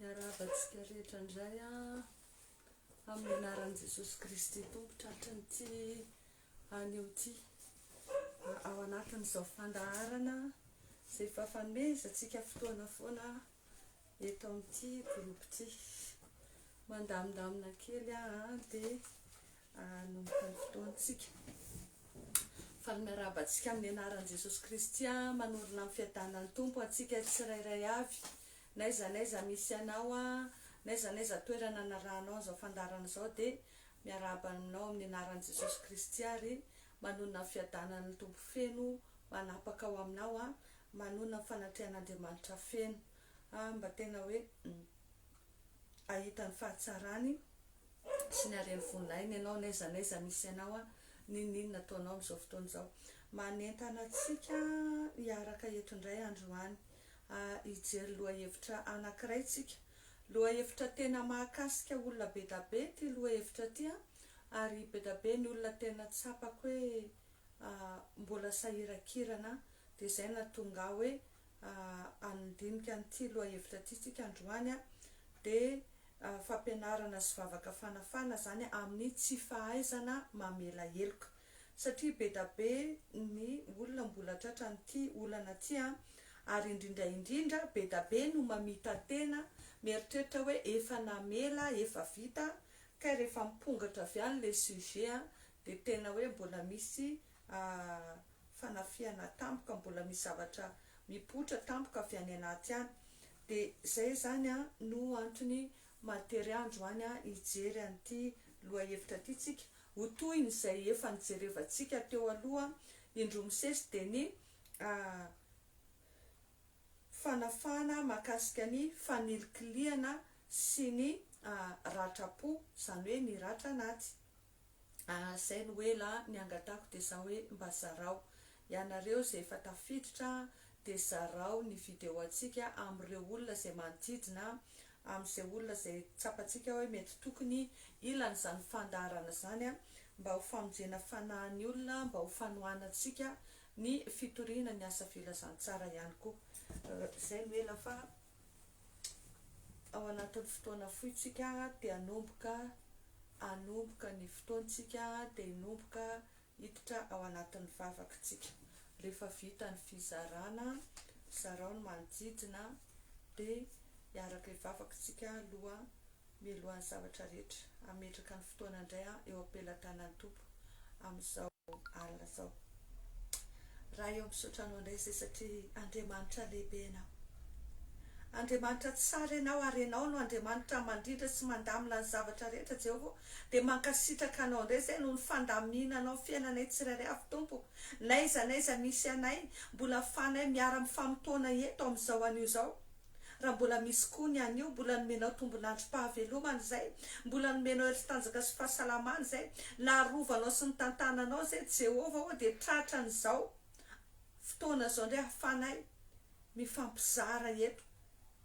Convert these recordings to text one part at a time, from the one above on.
Miarahabantsika rehetra indray amin'ny anaran'i Jesosy Kristy Tompo tratry ny tsy anio ity ao anatin'izao fandaharana izay efa fanomezantsika fotoana foana eto amin'ity groupe ity. Mandamindamina kely aho an, dia hanomboka ny fotoantsika. Faly miarahaba antsika amin'ny anaran'i Jesosy Kristy an, manorina ny fiadanan'ny Tompo antsika tsirairay avy. N'aiza n'aiza misy anao an, n'aiza n'aiza toerana anarahanao an'izao fandaharana izao dia miarahaba anao amin'ny anaran'i Jesosy Kristy ary manonona ny fiadanan'ny Tompo feno manapaka ao aminao an, manonona ny fanatrehan'Andriamanitra feno. Ah mba tena hoe ahita ny fahatsarany sy ny hareny voninahiny ianao n'aiza n'aiza misy anao an! N'inon'inona ataonao amin'izao fotoana izao. Manentana antsika hiaraka eto indray androany hijery lohahevitra anankiray tsika. Lohahevitra tena mahakasika olona bedabe ity lohahevitra ity an! Ary bedabe ny olona tena tsapako hoe mbola sahirankirana dia izay no nahatonga ahy hoe handinika an'ity lohahevitra ity tsika androany dia fampianarana sy vavaka fanafahana izany amin'ny tsy fahaizana mamela heloka satria bedabe ny olona mbola tratran'ity olana ity ary indrindra indrindra bedabe no mamita tena mieritreritra hoe efa namela efa vita kay rehefa mipongatra avy any ilay sujet dia tena hoe mbola misy Aah fanafihana tampoka mbola misy zavatra mipoitra tampoka avy any anaty any de zay zany an no antony mahatery andro any an hijery an'ity lohahevitra ty tsika ho tohiny zay efa nijerevantsika teo aloha indroa misesy de ny aah fanafahana mahakasika ny fanilikilihana sy ny aah ratra po zany hoe ny ratra anaty. ah zay no ela ah niangatako de za hoe mba zarao ianareo ze efa tafiditra ah de zarao ny video antsika amreo olona zay manodidina ah amze olona zay tsapantsika hoe mety tokony ilana zany fandaharana zany ah mba ho famonjena fanahin'ny olona mba ho fanohanantsika ny fitoriana ny asa filazantsara ihany koa ah zay no ela fa ao anatin'ny fotoana fohy tsika de hanomboka hanomboka ny fotoantsika de hinomboka hiditra ao anatin'ny vavaka tsika rehefa vita ny fizarana zarao ny manodidina de hiaraka hivavaka tsika aloha Mialohan'ny zavatra rehetra, hametraka ny fotoana indray aho eo am-pelatanan'ny Tompo amin'izao alina izao. Ray ô, misaotra Anao indray izay satria Andriamanitra lehibe Ianao. Andriamanitra tsara Ianao ary Ianao no Andriamanitra mandrindra sy mandamina ny zavatra rehetra Jehovah ô. Dia mankasitraka Anao indray izay noho ny fandaminanao ny fiainanay tsirairay avy Tompo. N'aiza n'aiza misy anay, mbola ahafahanay miara-mifamotoana eto amin'izao anio izao. Raha mbola misy koa ny anio, mbola nomenao tombon'androm-pahavelomana izay, mbola nomenao hery sy tanjaka sy fahasalamana izay, narovanao sy nitantananao izay, Jehovah ô, dia tratran'izao fotoana izao indray ahafanay mifampizara eto,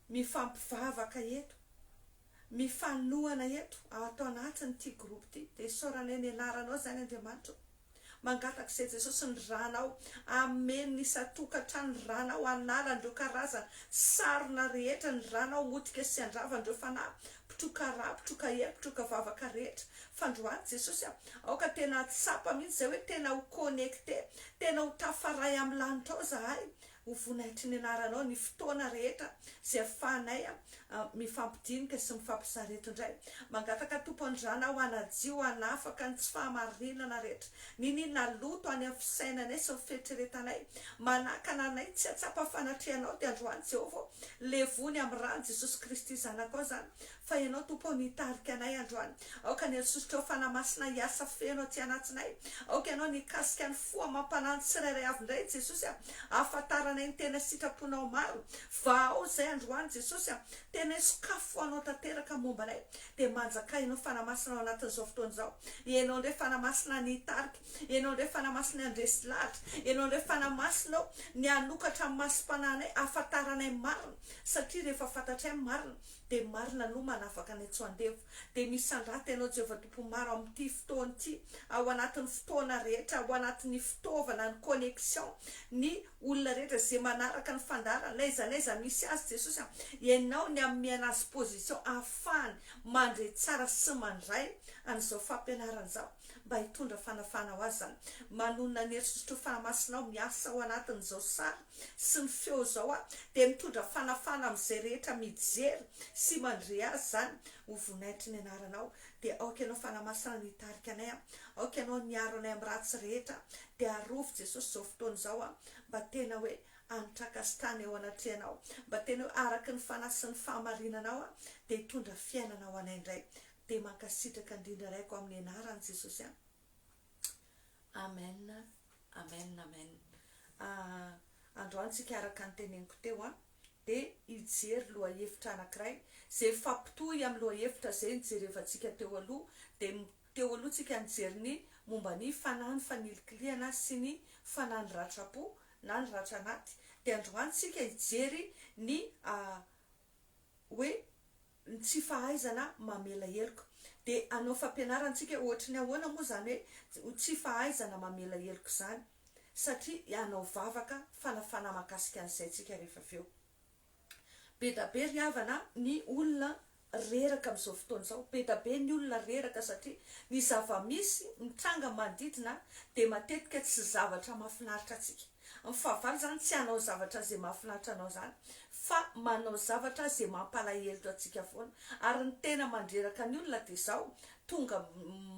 mifampivavaka eto. mifanohana eto ato anatin'ity groupe ity dia isaoranay ny anaranao izany Andriamanitra ô mangataka izay Jesosy ny ranao amen ny isan-tokantrano ny ranao hanala an'ireo karazana sarona rehetra ny ranao motika sy handrava an'ireo fanahy mpitroka rà mpitroka hery mpitroka vavaka rehetra fandroany Jesosy a aoka tena hahatsapa mihitsy izay hoe tena ho connecter tena ho tafaray amin'ny lanitra ao izahay Ho voninahitry ny anaranao ny fotoana rehetra izay ahafahanay mifampidinika sy mifampisarety indray. Mangataka Tompo Andriana aho hanadio hanafaka ny tsy fahamarinana rehetra, ny ny naloto any amin'ny fisainanay sy ny fieritreretanay. Manakana anay tsy hahatsapa fanatrehanao dia androany Jehovah ô, levony amin'ny ran'i Jesosy Kristy Zanakao izany Fa Ianao, Tompo ô, no hitarika anay androany. Aoka ny herisosotrao Fanahy Masina hiasa feno aty anatinay. Aoka Ianao no hikasika ny fo amam-panahin'ny tsirairay avy indray, Jesosy a. Ahafantaranay ny tena sitraponao maro. Vahao izay androany, Jesosy a. Tena hisokafy ho Anao tanteraka momba anay. Dia manjakà Ianao Fanahy Masina ao anatin'izao fotoana izao. Ianao indray Fanahy Masina ny hitarika. Ianao indray Fanahy Masina ny handresy lahatra. Ianao indray Fanahy Masina ô, ny hanokatra ny masom-panahinay, ahafantaranay ny marina. Satria rehefa fantatray ny marina, Dia marina aloha manafaka ny antso andevo dia misandrata ianao Jehovah Tompo maro amin'ity fotoana ity ao anatin'ny fotoana rehetra ao anatin'ny fitaovana ny connexion ny olona rehetra izay manaraka ny fandaharana n'aiza n'aiza misy azy Jesosy a ianao ny ameana azy position ahafahany mandre tsara sy mandray an'izao fampianarana izao mba hitondra fanafahana ho azy izany manonona ny herisotr'io fanahy masinao miasa ao anatin'izao sary sy ny feo izao a dia mitondra fanafana amin'izay rehetra mijery sy mandre azy izany ho vonaitry ny anaranao dia aoka ianao fanahy masina no hitarika anay a aoka ianao no miaro anay amin'ny ratsy rehetra dia arovy jesosy izao fotoana izao a mba tena hoe anitraka sy tana eo anatrehanao mba tena hoe araka ny fanahy sy ny fahamarinanao a dia hitondra fiainana ho anay indray dia mankasitraka indrindra raiko amin'ny anaran'i jesosy a. Amen amen amen androany tsika araka ny teneniko teo an de hijery lohahevitra anakiray ze mifampitohy amin'ny lohahevitra zay nijerevantsika teo aloha de teo aloha tsika nijery ny momba ny fanahy ny fanilikilihana sy ny fanahy ny ratrapo na ny ratra anaty de androany tsika hijery ny hoe ny tsy fahaizana mamela heloka. Dia hanao fampianarantsika ohatry ny ahoana moa izany hoe tsy fahaizana mamela heloka izany? Satria hanao vavaka fanafana mahakasika an'izay tsika rehefa avy eo. Be da be ry havana ny olona reraka amin'izao fotoana izao. Be da be ny olona reraka satria ny zava-misy mitranga manodidina dia matetika tsy zavatra mahafinaritra antsika. Ny fahavalo zany tsy hanao zavatra ze mahafinaritra anao zany fa manao zavatra ze mampalahelo antsika foana ary ny tena mandreraka ny olona de zao tonga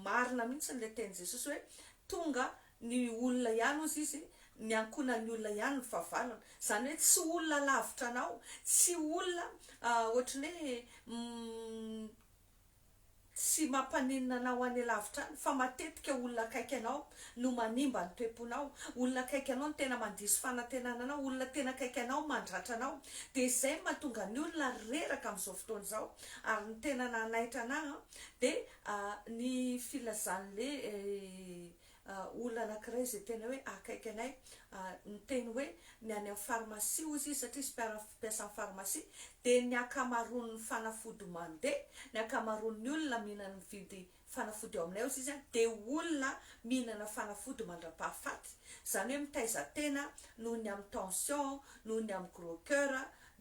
marina mintsy ny le teny jesosy hoe tonga ny olona ihany ozy izy ny ankonan ny olona ihany ny fahavalony zany hoe tsy olona lavitra anao tsy olona ohatry ny hoe Tsy mampaninona anao any alavitra any fa matetika olona akaiky anao no manimba ny toe-ponao, olona akaiky anao no tena mandiso fanantenana anao, olona tena akaiky anao mandratra anao, dia izay no mahatonga ny olona reraka amin'izao fotoana izao, ary ny tena nanaitra anah an dia ny filazan'le olona anankiray izay tena hoe akaiky anay niteny hoe ny any amin'ny farmasia hoy izy satria izy mpiara-mpiasa amin'ny farmasia dia ny ankamaroan'ny fanafody mandeha, ny ankamaroan'ny olona mihinana mividy fanafody ao aminay hozy izy dia olona mihinana fanafody mandra-pahafaty izany hoe mitaiza tena noho ny amin'ny tension, noho ny amin'ny gros coeur,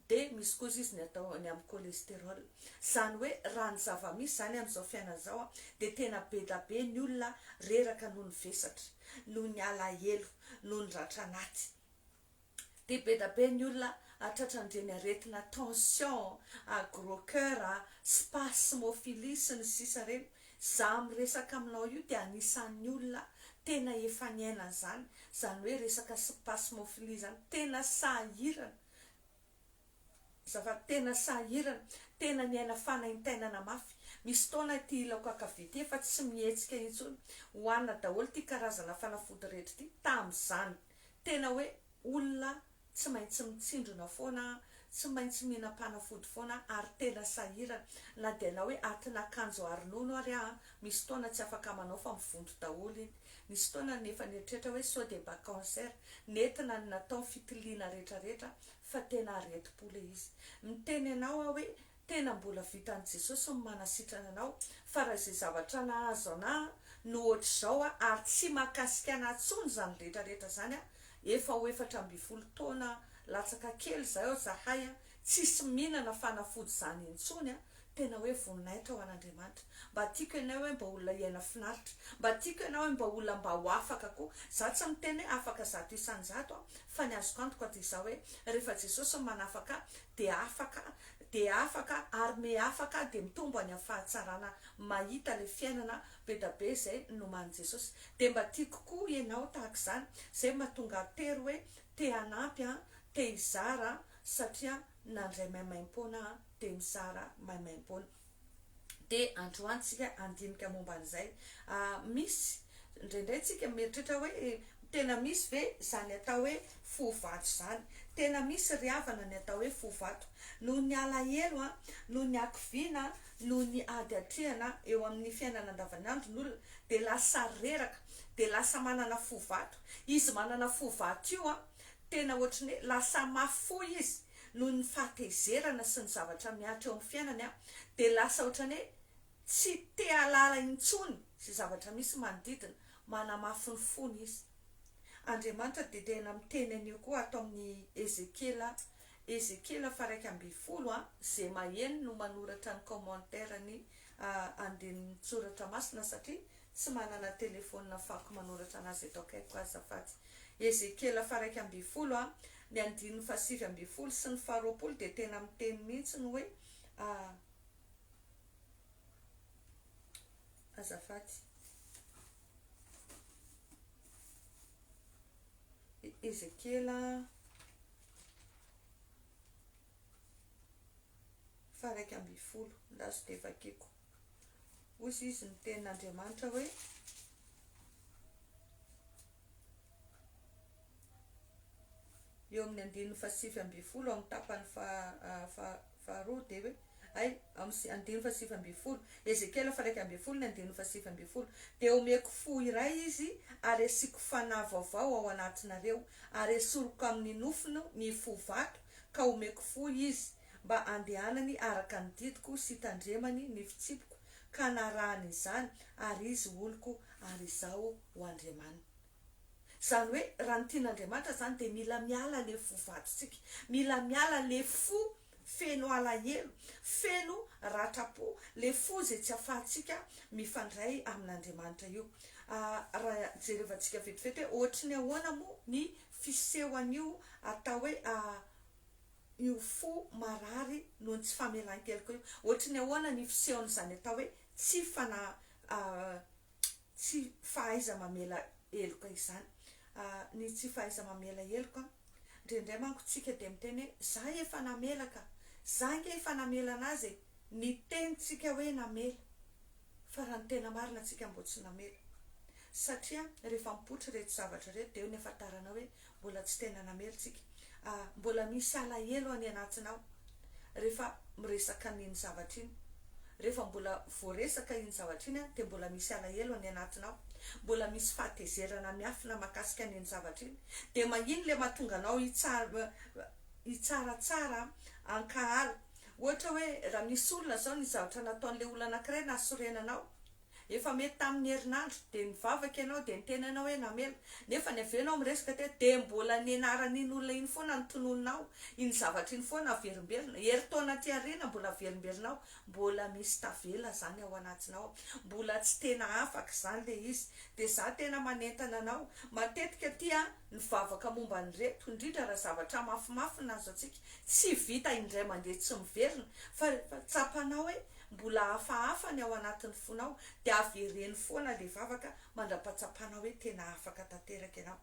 Dia misy kosa izy ny atao ny amin'ny cholestérol. Izany hoe raha ny zava-misy izany amin'izao fiainana izao dia tena be da be ny olona reraka noho ny vesatra, noho ny alahelo, noho ny ratra anaty. Dia be da be ny olona tratran'ireny aretina tension, gros coeur, spasmophilie sy ny sisa ireny. Izaho miresaka aminao io dia anisan'ny olona tena efa niaina an'izany, izany hoe resaka spasmophilie izany. Tena sahirana. Zava tena sahirana, tena miaina fanaintainana mafy. Misy fotoana ity ilako ankavia ity efa tsy mihetsika intsony. Hohanina daholo ity karazana fanafody rehetra ity tamin'izany. Tena hoe olona tsy maintsy mitsindrona foana aho, tsy maintsy mihinam-panafody foana aho ary tena sahirana. Na dia na hoe atin'akanjo ary nono ary aho, misy fotoana tsy afaka manao fa mivonto daholo iny. Nisy fotoana aho nefa nieritreritra hoe sao dia mba cancer, nentina ny natao fitiliana retraretra fa tena aretim-po le izy. Miteny anao aho hoe tena mbola vitan'i Jesosy ny manasitrana anao fa raha izay zavatra nahazo anà no ohatr'izao aho ary tsy mahakasika anà tsony izany retraretra izany aho efa ho efatra ambin'ny folo taona latsaka kely izay aho zahay Tsisy mihinana fanafody izany intsony a! Tena hoe voninahitra ho an'Andriamanitra. Mba tiako ianao hoe mba olona hiaina finaritra. Mba tiako ianao hoe mba olona mba ho afaka koa. Za tsy miteny hoe afaka zato isan-jato aho fa ny azoko antoka dia izao hoe rehefa Jesosy no manafaka ahy dia afaka dia afaka ary me afaka aho dia mitombo any amin'ny fahatsarana mahita ilay fiainana bedabe izay noman'i Jesosy. Dia mba tiako koa ianao tahaka izany. Izay mahatonga ahy tery hoe te hanampy an, te hizara satria nandray maimaimpoana aho dia mizara maimaimpoana dia androany tsika handinika momba an'izay misy indraindray tsika mieritreritra hoe tena misy ve izany atao hoe fo vato izany tena misy ry havana ny atao hoe fo vato noho ny alahelo a noho ny hakiviana noho ny ady hatrehana eo amin'ny fiainana andavanandro ny olona dia lasa reraka dia lasa manana fo vato izy manana fo vato io a Tena ohatry ny hoe lasa mafy fo izy noho ny fahatezerana sy ny zavatra mihatra eo amin'ny fiainany an, dia lasa ohatry ny hoe tsy te hahalala intsony izay zavatra misy manodidina, manamafy ny fony izy. Andriamanitra dia tena miteny an'io koa ato amin'ny Ezekiela, Ezekiela faha iraika ambin'ny folo an, izay maheno no manoratra ny commentaire ny andinin-tsoratra masina satria Tsy manana telefonina afahako manoratra anazy eto akaikiko azafady. Ezekiela faharaika ambin'ny folo a, ny andininy fahasivy ambin'ny folo sy ny faharoapolo dia tena miteny mihitsy ny hoe a. Azafady. Ezekiela faharaika ambin'ny folo, ndazo dia vakiko. Hoy izy ny tenin'Andriamanitra hoe, eo amin'ny andininy fahasivy ambin'ny folo amin'ny tapany faharoa dia hoe, hay, amin'ny andininy fahasivy ambin'ny folo, Ezekiela faha-iraika ambin'ny folo ny andininy fahasivy ambin'ny folo, dia homeko fo iray izy ary hasiako fanahy vaovao ao anatinareo, ary hesoriko amin'ny nofony ny fo vato, ka homeko fo izy, mba handehanany araka ny didiko sy tandremany ny fitsipiko ka narahany izany ary izy oloko ary izaho ho Andriamaniny. Izany hoe raha ny tian'Andriamanitra izany dia mila miala ilay fo vadintsika, mila miala ilay fo feno alahelo, feno ratram-po, ilay fo izay tsy afahantsika mifandray amin'Andriamanitra io. Raha jerevantsika vetivety hoe ohatry ny ahoana moa ny fiseho an'io atao hoe io fo marary noho ny tsy famelan-keloka io. Ohatry ny ahoana ny fisehon'izany atao hoe tsy fana tsy fahaiza-mamela heloka izany? Ny tsy fahaiza-mamela heloka, indraindray manko isika dia miteny hoe, za efa namela ka! Za ange efa namela an'azy e! Ny tenintsika hoe namela, fa raha ny tena marina, tsika mbo tsy namela. Satria rehefa mipoitra ireto zavatra ireto dia eo ny afantaranao hoe Mbola tsy tena namely tsika. Ah, mbola misy alahelo any anatinao rehefa miresaka an'iny zavatra iny. Rehefa mbola voaresaka iny zavatra iny an, dia mbola misy alahelo any anatinao. Mbola misy fahatezerana miafina mahakasika an'iny zavatra iny. Dia mahiny ilay mahatonga anao hitsara, hitsaratsara an-kahala. Ohatra hoe, raha misy olona izao ny zavatra nataon'ilay olona anankiray nahasorena anao. Efa mety tamin'ny herinandro, dia nivavaka ianao, dia niteny anao hoe namela. Nefa ny avy eo ianao miresaka teto, dia mbola ny anaran'iny olona iny foana no tononinao, iny zavatra iny foana averimberina. Herintaona aty aoriana mbola averimberinao, mbola misy tavela izany ao anatinao ao. Mbola tsy tena afaka izany ilay izy. Dia izaho tena manentana anao, matetika aty an, ny vavaka momba an'ireto, indrindra raha zavatra mafimafy no azo antsika, tsy vita indray mandeha tsy miverina, fa rehefa tsapanao hoe, Mbola hafahafa ny ao anatin'ny fonao dia avereno foana ilay vavaka mandrapatsapana hoe tena afaka tanteraka ianao.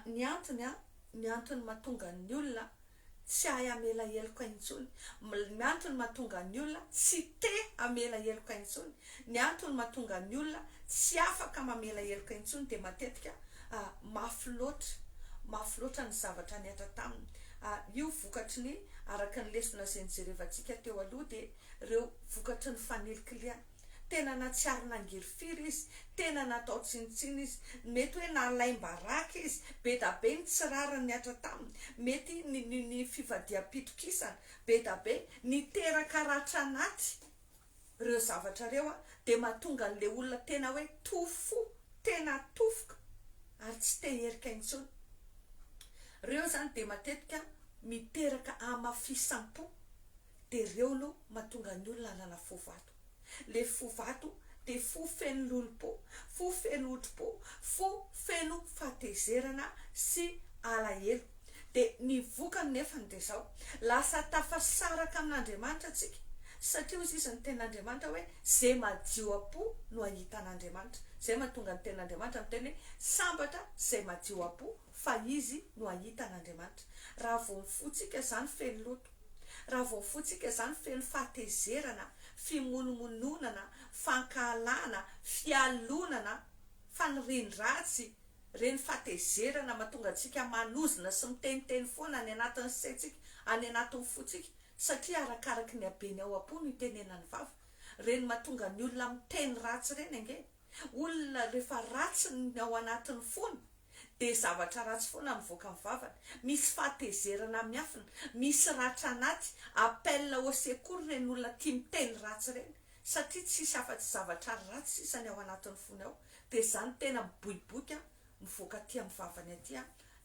Ny antony an, ny antony mahatonga ny olona tsy hahay hamela heloka intsony, ny antony mahatonga ny olona tsy te hamela heloka intsony Ny antony mahatonga ny olona tsy afaka mamela heloka intsony dia matetika mafy loatra, mafy loatra ny zavatra nihatra taminy. Io vokatry ny, araka ny lesona izay nijerevantsika teo aloha, dia ireo vokatry ny fanilikilihana. Tena nahatsiaro nangily firy izy, tena natao tsinontsinona izy, mety hoe nalaim-baraka izy, be da be ny tsy rariny nihatra taminy, mety ny ny ny fivadiham-pitokisana, be da be, niteraka ratra anaty. reo zavatra reo a de matonga anle olona tena hoe tofo fo tena tofoka ary tsy te herika intsony reo zany de matetika miteraka amafisam-po de reo aloha matonga ny olona anana fo vato le fo vato de fo feno lolompo fo feno otrompo fo feno fahatezerana sy alahelo. Dia ny vokany nefany dia izao, lasa tafasaraka amin'Andriamanitra tsika, satria hoy izy, izy ny tenin'Andriamanitra hoe, ze madio am-po no ahitan'Andriamanitra. Zay mahatonga ny tenin'Andriamanitra miteny hoe, sambatra zay madio am-po fa izy no ahitan'Andriamanitra. Raha vao ny fontsika zany feno loto, raha vao ny fontsika zany feno fahatezerana, fimonomononana, fankahalana, fialonana, fanirian-dratsy, Ireny fahatezerana mahatonga antsika manozona sy miteniteny foana any anatin'ny saintsika, any anatin'ny fontsika, satria arakaraky ny habeny ao am-po no itenenan'ny vava. Ireny mahatonga ny olona miteny ratsy ireny ange. Olona rehefa ratsy ny ao anatin'ny fony dia zavatra ratsy foana mivoaka amin'ny vavany. Misy fahatezerana miafina, misy ratra anaty, appel au secours ireny olona tia miteny ratsy ireny. Satria tsy hisy afa-tsy zavatra ratsy sisa ny ao anatin'ny fony ao, dia izany tena miboiboika mivoaka aty amin'ny vavany aty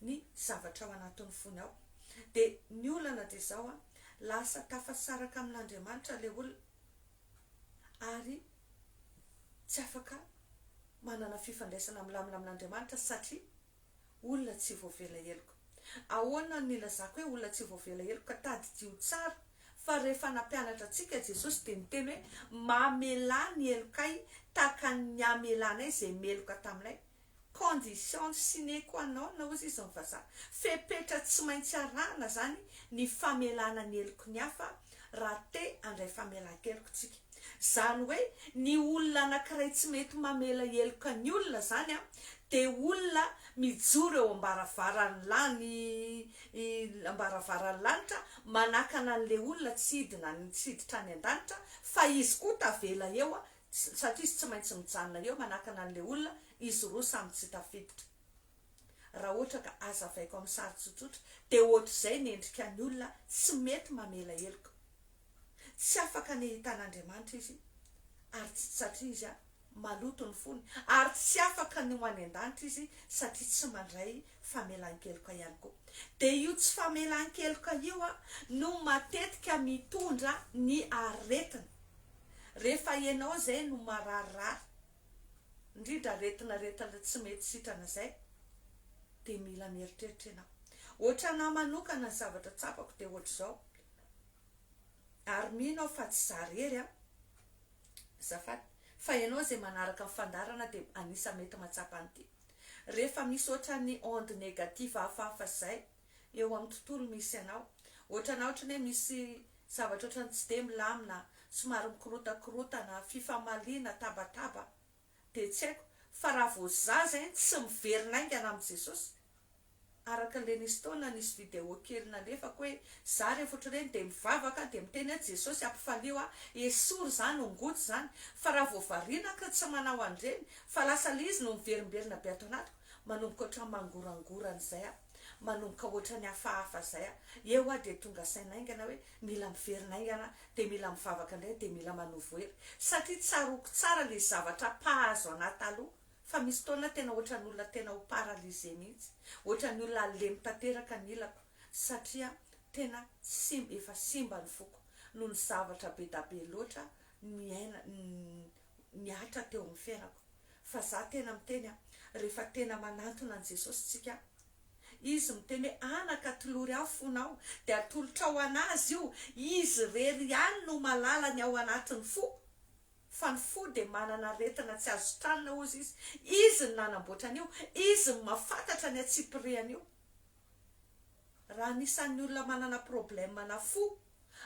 ny zavatra ao anatin'ny fony ao. Dia ny olana dia izao, lasa tafasaraka amin'Andriamanitra ilay olona ary tsy afaka manana fifandraisana milamina amin'Andriamanitra satria. Olona tsy voavela heloka. Ahoana no ilazako hoe olona tsy voavela heloka? Tadidio tsara fa rehefa nampianatra antsika Jesosy dia niteny hoe mamelà ny helokay tahaka ny hamelanay izay meloka taminay. Condition sine qua non hozy izy ny vazaha. Fepetra tsy maintsy arahana izany ny famelana ny heloky ny hafa raha te handray famelan-keloka isika. Izany hoe ny olona anankiray tsy mety mamela heloka ny olona izany dia olona mijoro eo am-baravaran'ny lany am-baravaran'ny lanitra manakana an'ilay olona tsy hidina any tsy hiditra any an-danitra fa izy koa tavela eo satria izy tsy maintsy mijanona eo manakana an'ilay olona izy roa samy tsy tafiditra raha ohatra ka azavaiko amin'ny sary tsotsotra dia ohatr'izay ny endrika ny olona tsy mety mamela heloka. Tsy afaka ny hitana Andriamanitra izy ary tsy satria izy maloto ny fony ary tsy afaka ny ho any an-danitra izy satria tsy mandray famelan-keloka ihany koa. Dia io tsy famelan-keloka io no matetika mitondra ny aretina. Rehefa ianao izay no mararirary, indrindra aretinaretina tsy mety sitrana izay, dia mila mieritreritra ianao. Ohatranahy manokana ny zavatra tsapako dia ohatr'izao, Ary mino aho fa tsy za rery an! Azafady fa ianao izay manaraka ny fandaharana dia anisan'ny mety mahatsapa an'ity. Rehefa misy ohatran'ny onde négative hafahafa izay eo amin'ny tontolo misy anao, ohatranà ohatran'ny hoe misy zavatra ohatran'ny tsy dia milamina, somary mikorotakorontana, fifamaliana, tabataba, dia tsy haiko fa raha vao za zay tsy miverina aingana amin'i Jesosy araka le nisy taona nisy vidéo kely nalefako hoe za rehefa otr'ireny dia mivavaka dia miteny hoe Jesosy ampifalio aho esory zany ho ngoty zany fa raha vao variana ka tsy manao an'ireny fa lasa le izy no miverimberina be ato anatiko Manomboka ohatran'ny mangorangorana izay aho, manomboka ohatran'ny hafahafa izay aho, eo aho dia tonga saina haingana hoe mila miverina haingana aho, dia mila mivavaka indray, dia mila manovo hery, satria tsaroako tsara ilay zavatra mpahazo an'ahy taloha, fa misy fotoana aho tena ohatran'ny olona tena ho paralysé mihitsy, ohatran'ny olona halemy tanteraka ny ilako, satria tena simba, efa simba ny foko, noho ny zavatra be da be loatra niaina, ny. nihatra teo amin'ny fiainako fa za tena miteny a rehefa tena manantona an'i Jesosy tsika Izy miteny hoe anaka atolory ahy fonao dia atolotrao an'Azy io Izy irery ihany no malala ny ao anatin'ny fo fa ny fo dia manana aretina tsy azo tranona hozy Izy Izy no nanamboatra an'io Izy no mafantatra ny antsipirihan'io raha anisan'ny olona manana problème na fo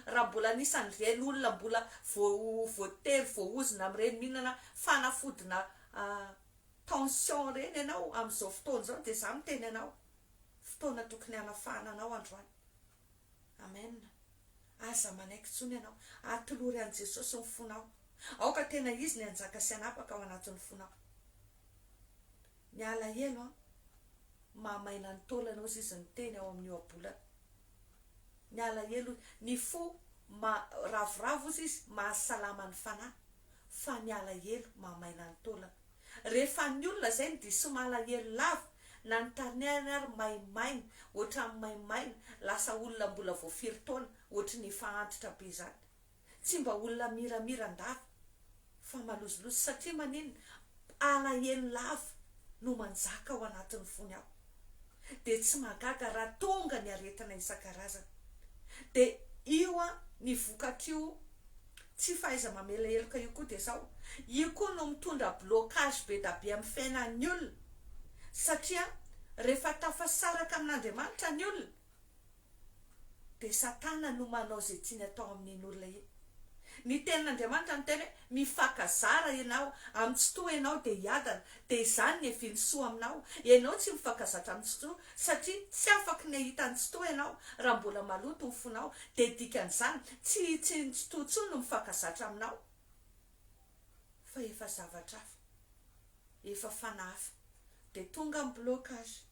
Raha mbola anisan'ny ireny olona mbola voatery voaozona amin'ireny mihinana fanafodina tension ireny ianao amin'izao fotoana izao dia izaho miteny anao, fotoana tokony hanafahana anao androany. Amen. Aza manaiky intsony ianao. Atolory an'i Jesosy ny fonao. Aoka tena Izy ny hanjaka sy hanapaka ao anatin'ny fonao. Ny alahelo an! Maha maina ny taolana ozy izy niteny ao amin'ny ohabolana. Ny alahelo ozy. Ny fo ma ravoravo ozy izy maha salama ny fanahy. Fa ny alahelo maha maina ny taolana. Rehefa ny olona izay no diso malahelo lava, na ny taninany ary maimaina, ohatran'ny maimaina, lasa olona mbola vao firy taona, ohatry ny efa antitra be izany. Tsy mba olona miramira an-dava fa malozolozo satria maninona? alahelo lava no manjaka ao anatin'ny fony ao. Dia tsy mahagaga raha tonga ny aretina isan-karazany. Dia io an, ny vokatr'io tsy fahaiza-mamela heloka io koa dia zao, io koa no mitondra blocage be da be amin'ny fiainan'ny olona satria rehefa tafasaraka amin'Andriamanitra ny olona dia Satana no manao izay tiany atao amin'iny olona iny. Ny Tenin'Andriamanitra miteny hoe, Mifankazara ianao, amin'ny tsy toa ianao dia hiadana, dia izany ny hevin'ny soa aminao. Ianao tsy mifankazatra amin'ny tsy toa, satria tsy afaka ny hahita ny tsy toa ianao raha mbola maloto ny fonao, dia dikan'izany, tsy hitsy ny tsy toa intsony no mifankazatra aminao, fa efa zavatra hafa, efa fanahy hafa. Dia tonga ny blocage.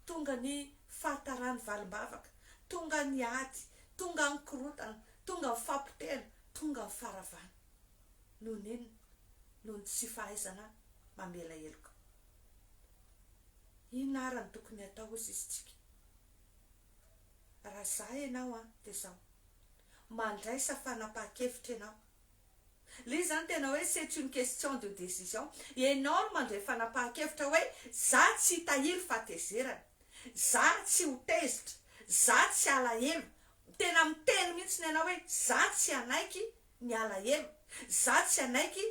Tonga ny fahataran'ny valim-bavaka, tonga ny ady, tonga ny korotana, tonga ny fahapotehana, tonga ny faharavana. Noho ny inona? Noho ny tsy fahaizana mamela heloka. Inona ary no tokony hatao hoy sisintsika? Raha izaho ianao an, dia izao, mandraisa fanapahan-kevitra ianao. Le zany tena hoe c'est une question de décision. Ianao no mandray fanapahan-kevitra hoe za tsy hitahiry fahatezerana, za tsy ho tezitra, za tsy halahelo. Tena miteny mihitsy ianao hoe za tsy hanaiky ny halahelo, za tsy hanaiky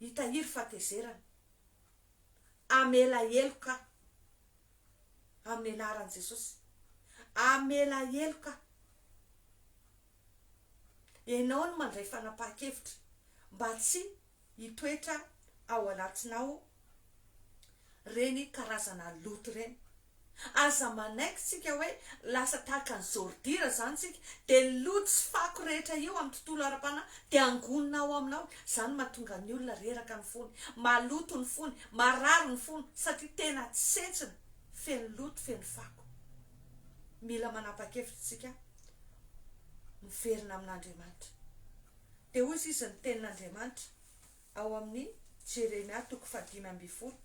hitahiry fahatezerana. Amela heloka amin'ny anaran'i Jesosy. Amela heloka. Ianao no mandray fanapahan-kevitra mba tsy hitoetra ao anatinao ireny karazana loto ireny. Aza manaiky tsika hoe lasa tahaka ny zordira izany tsika dia ny loto sy fako rehetra eo amin'ny tontolo ara-panahy dia angonina ao aminao, izany mahatonga ny olona reraka ny fony, maloto ny fony, marary ny fony satria tena tsentsina, feno loto, feno fako. Mila manapa-kevitra tsika. miverina amin'Andriamanitra. Dia hoy izy izy ny tenin'Andriamanitra ao amin'ny Jeremia toko fahadimy ambin'ny folo.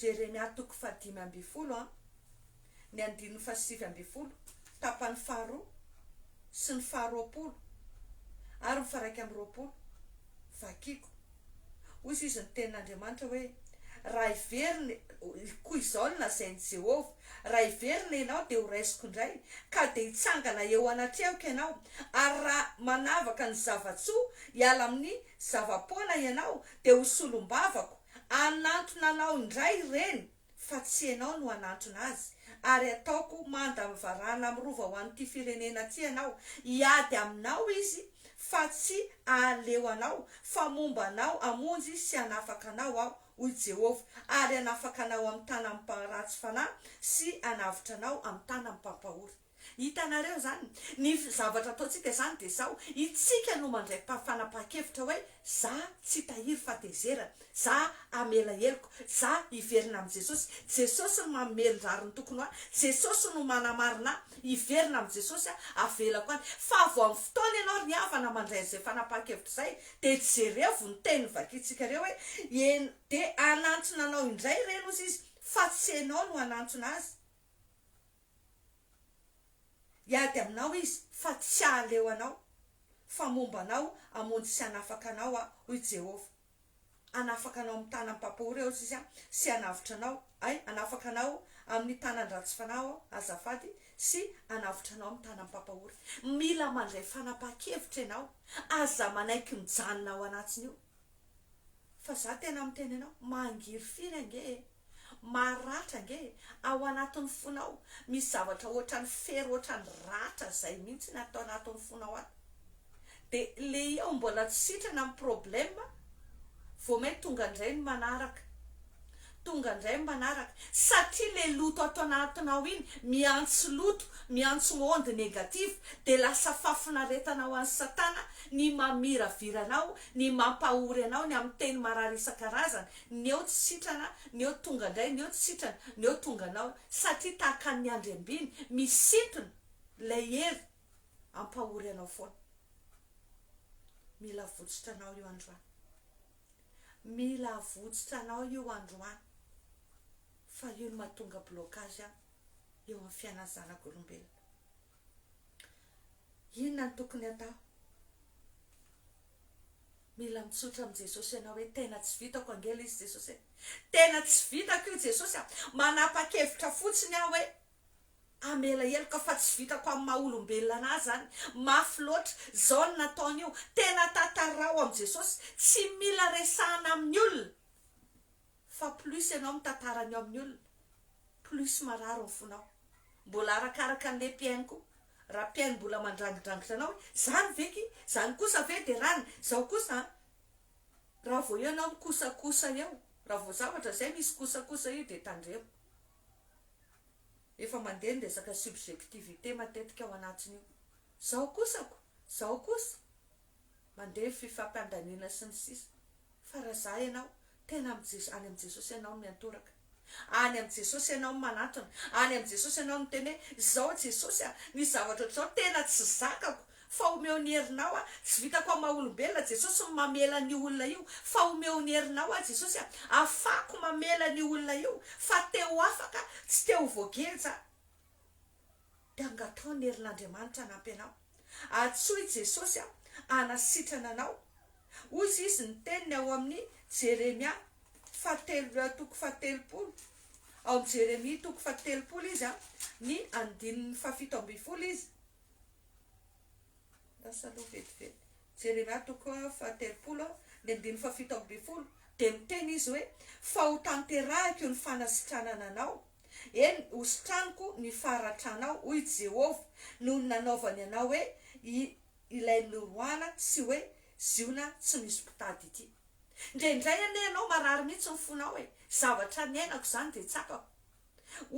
Jeremia toko fahadimy ambin'ny folo an, ny andininy fahasivy ambin'ny folo, tapany faharoa sy ny faharoapolo ary ny faharaika amby roapolo. Vakiko. Hoy Jiosy ny Tenin'Andriamanitra hoe, Raha heverina, koa izao no lazain'i Jehovah, Raha heverina ianao, dia horaisiko indray, ka dia hitsangana eo anatrehako ianao, ary raha manavaka ny zava-tsoa hiala amin'ny zava-poana ianao, dia ho solombavako, hanantona anao indray ireny. fa tsy ianao no hanantona azy, ary hataoko manda amin'ny varahana amin'ny rova ho an'ity firenena ity ianao, hiady aminao izy fa tsy hahaleo anao, fa momba anao hamonjy sy hanafaka anao aho, hoy Jehovah, ary hanafaka anao amin'ny tanan'ny mparatsy fanahy sy hanavotra anao amin'ny tanan'ny mpampahory. Hitanareo izany? Ny zavatra ataontsika izany dia izao, Itsika no mandray fanapahan-kevitra hoe, za tsy tahiry fatezerana, za hamela heloko, za hiverina amin'i Jesosy, Jesosy no manome ny rariny tokony ho ahy, Jesosy no manamarina ahy, hiverina amin'i Jesosy aho, avelako any. Fa vao amin'ny fotoana ianao ry havana mandray an'izay fanapahan-kevitra izay, dia jerevo ny teny novakintsika ireo hoe, En, dia hanantona anao indray ireny hozy izy, fa tsy ianao no hanantona azy. Hiady aminao izy fa tsy hahaleo anao, fa momba anao hamonjy sy hanafaka anao aho, hoy Jehovah. Hanafaka anao amin'ny tanan'ny mpampahory aho, hoy izy, sy hanavotra anao, hay, hanafaka anao amin'ny tanan-dratsy fanahy aho, azafady, sy hanavotra anao amin'ny tanan'ny mpampahory. Mila mandray fanapahan-kevitra ianao. Aza manaiky mijanona ao anatiny io. Fa izaho tena miteny anao, mangirifiry ange e! Maharatra ange e! Ao anatin'ny fonao misy zavatra ohatran'ny fery ohatran'ny ratra zay mintsy ny ato anatin'ny fonao ato. De le iao mbola tsy sitrana ny problème vao main tonga indray ny manaraka. Tonga indray ny manaraka. Satria le loto ato anatinao iny miantso loto, miantso onde négative de lasa fafinaretana ho an'i satana ny mamiravira anao, ny mampahory anao, ny amin'ny teny marary isan-karazany, Ny eo tsy sitrana, ny eo tonga indray, ny eo tsy sitrana, ny eo tonga anao, satria tahaka ny andriambiny, misintona ilay hery hampahory anao foana. Mila avotsotra anao io androany. Mila avotsotra anao io androany. Fa io no mahatonga blocage eo amin'ny fiainan'ny zanak'olombelona. Inona no tokony atao? Mila mitsotra amin'i Jesosy ianao hoe tena tsy vitako ange ilay izy Jesosy e! Tena tsy vitako io Jesosy a! Manapa-kevitra fotsiny aho hoe hamela heloka fa tsy vitako amin'ny maha olombelona an'ahy izany, mafy loatra, izao no nataony io, tena tantaraho amin'i Jesosy, tsy mila resahina amin'ny olona. Fa plus ianao mitantara ny ao amin'ny olona plus marary ny fonao. Mbola arakaraka an'le mpihaino koa. Raha mpihaino mbola mandrangidrangitra anao hoe zany ve ki, zany kosa ve de rany, zao kosa an. Raha vao eo ianao mikosakosa eo, raha vao zavatra zay misy kosakosa io de tandremo. Efa mandeha ny resaka subjectivité matetika ao anatiny io. Zao kosako, zao kosa, mandeha fifampandaniana sy ny sisa Fa raha za ianao tena am Jesosy any am Jesosy ianao no miantoraka any am Jesosy ianao no manatona any am Jesosy ianao no miteny hoe izao Jesosy a misy zavatra ohatr'izao tena tsy zakako fa omeo ny herinao a tsy vitako am maha olombelona Jesosy ny mamela an'io olona io fa omeo ny herinao aho Jesosy a afahako mamela an'io olona io fa te ho afaka tsy te ho voageja Dia angataho ny herin'Andriamanitra hanampy anao. Antsoy i Jesosy hanasitrana anao. Hoy izy, izy ny teniny ao amin'ny Jeremia fahatelo toko fahatelopolo, ao amin'ny Jeremia toko fahatelopolo izy, ny andininy fahafito ambin'ny folo izy. Lasa aloha vetivety. Jeremia toko fahatelopolo, ny andininy fahafito ambin'ny folo. Dia miteny izy hoe, Fa hotanterahiko ny fanasitranana anao. Eny, hositraniko ny faharatranao, hoy Jehovah, noho ny nanaovany anao hoe ilay norohana sy hoe ziona tsy misy mpitady ity. Indraindray anie ianao marary mihitsy ny fonao e! Zavatra niainako izany dia tsapako.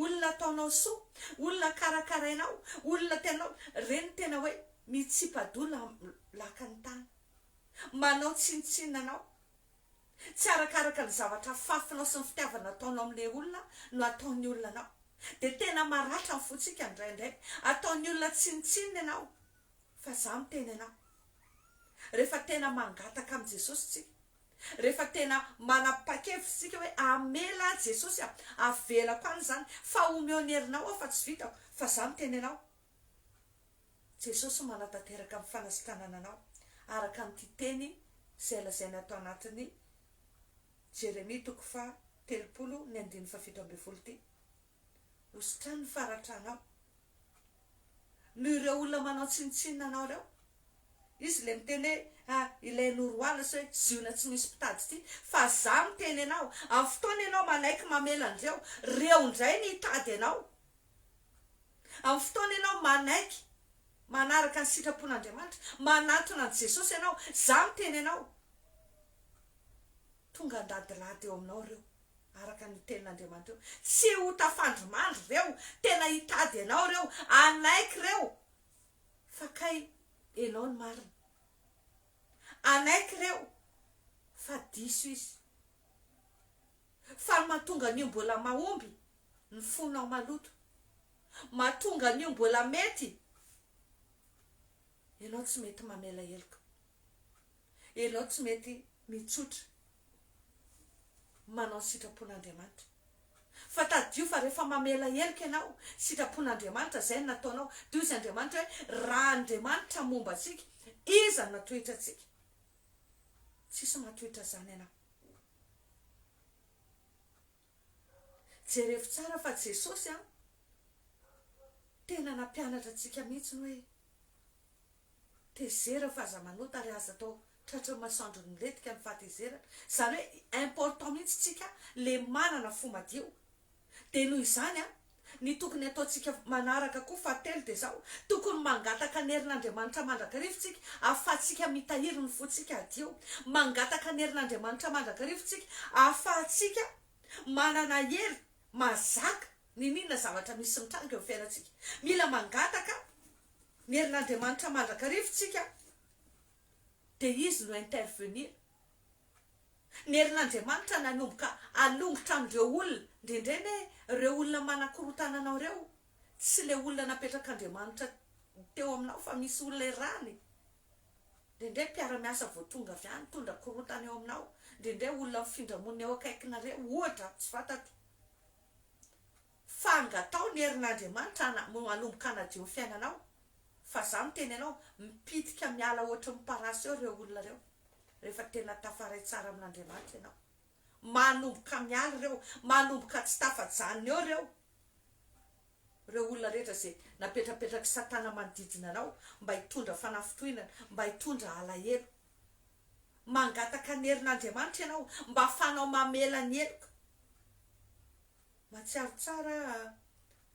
Olona ataonao soa, olona karakarainao, olona tena reny tena hoe mitsipa-doha lakan'ny tany, manao tsinontsinona anao. Tsy arakaraka ny zavatra fafinao sy ny fitiavana ataonao amin'ilay olona no ataon'ny olona anao. Dia tena maratra ny fontsika indraindray. Ataon'ny olona tsinontsinona ianao. Fa izaho miteny anao. Rehefa tena mangataka amin'i Jesosy isika, rehefa tena manapa-kevitra isika hoe hamela ahy Jesosy a, havelako any izany, fa omeo ny herinao aho fa tsy vitako, fa izaho miteny anao. Jesosy manatanteraka ny fanasitanana anao araka an'ity teny izay lazaina tao anatin'ny Jeremia toko faha telopolo ny andininy faha fito ambin'ny folo ity, Hositrany ny faratranao noho ireo olona manao tsinontsinona anao ireo. Izy ilay miteny hoe, Ah, ilay Noroala sy hoe Ziona tsy misy mpitady ity. Fa Izaho miteny anao, amin'ny fotoana ianao manaiky mamela an'ireo, ireo indray no hitady anao. Amin'ny fotoana ianao manaiky manaraka ny sitrapon'Andriamanitra, manatona an'i Jesosy ianao, izaho miteny anao, tonga handadilady eo aminao ireo, araka ny tenin'Andriamanitra eo. Tsy ho tafandrimandry ireo, tena hitady anao ireo, hanaiky ireo fa kay ianao no marina. Hanaiky ireo fa diso izy. Fa ny mahatonga an'io mbola mahomby, ny fonao maloto. Mahatonga an'io mbola mety ianao tsy mety mamela heloka, ianao tsy mety mitsotra manao ny sitrapon'Andriamanitra. Fa tadidio fa rehefa mamela heloka ianao, sitrapon'Andriamanitra izay no nataonao. Dia hoy izy Andriamanitra hoe, Raha Andriamanitra momba antsika, iza no hatohitra antsika? Tsisy mahatohitra izany anao. Jerefo tsara fa Jesosy an, tena nampianatra antsika mihitsy ny hoe tezera fa aza manota ary aza atao tratrin'ny masoandro ny milentika ny fahatezerana. Izany hoe important mihitsy tsika le manana fo madio. Dia noho izany an, Ny tokony hataontsika manaraka koa, fahatelo, dia izao, tokony mangataka ny herin'Andriamanitra mandrakariva isika ahafahantsika mitahiry ny fontsika hadio. Mangataka ny herin'Andriamanitra mandrakariva isika ahafahantsika manana hery mahazaka n'inon'inona zavatra misy mitranga eo amin'ny fiainantsika. Mila mangataka ny herin'Andriamanitra mandrakariva isika dia Izy no intervenir. Ny herin'Andriamanitra nanomboka hanongotra an'ireo olona, indraindray anie ireo olona manakorontana anao ireo, tsy ilay olona napetrak'Andriamanitra teo aminao fa misy olona errany, indraindray mpiara-miasa vao tonga avy any mitondra korontana eo aminao, indraindray olona mifindra monina eo akaikinareo, ohatra, tsy fantatro. Fa angataho ny herin'Andriamanitra ana mo hanomboka hanadio ny fiainanao fa za miteny anao mipitika miala ohatry ny parasy eo reo olona reo refa tena tafaray tsara amin'Andriamanitra ianao manomboka miala reo manomboka tsy tafajanona eo reo reo olona rehetra ze napetrapetrak'i satana manodidina anao mba hitondra fanafintohinana mba hitondra alahelo mangataka ny herin'Andriamanitra ianao mba afahanao mamela ny heloka Mahatsiaro tsara aho a!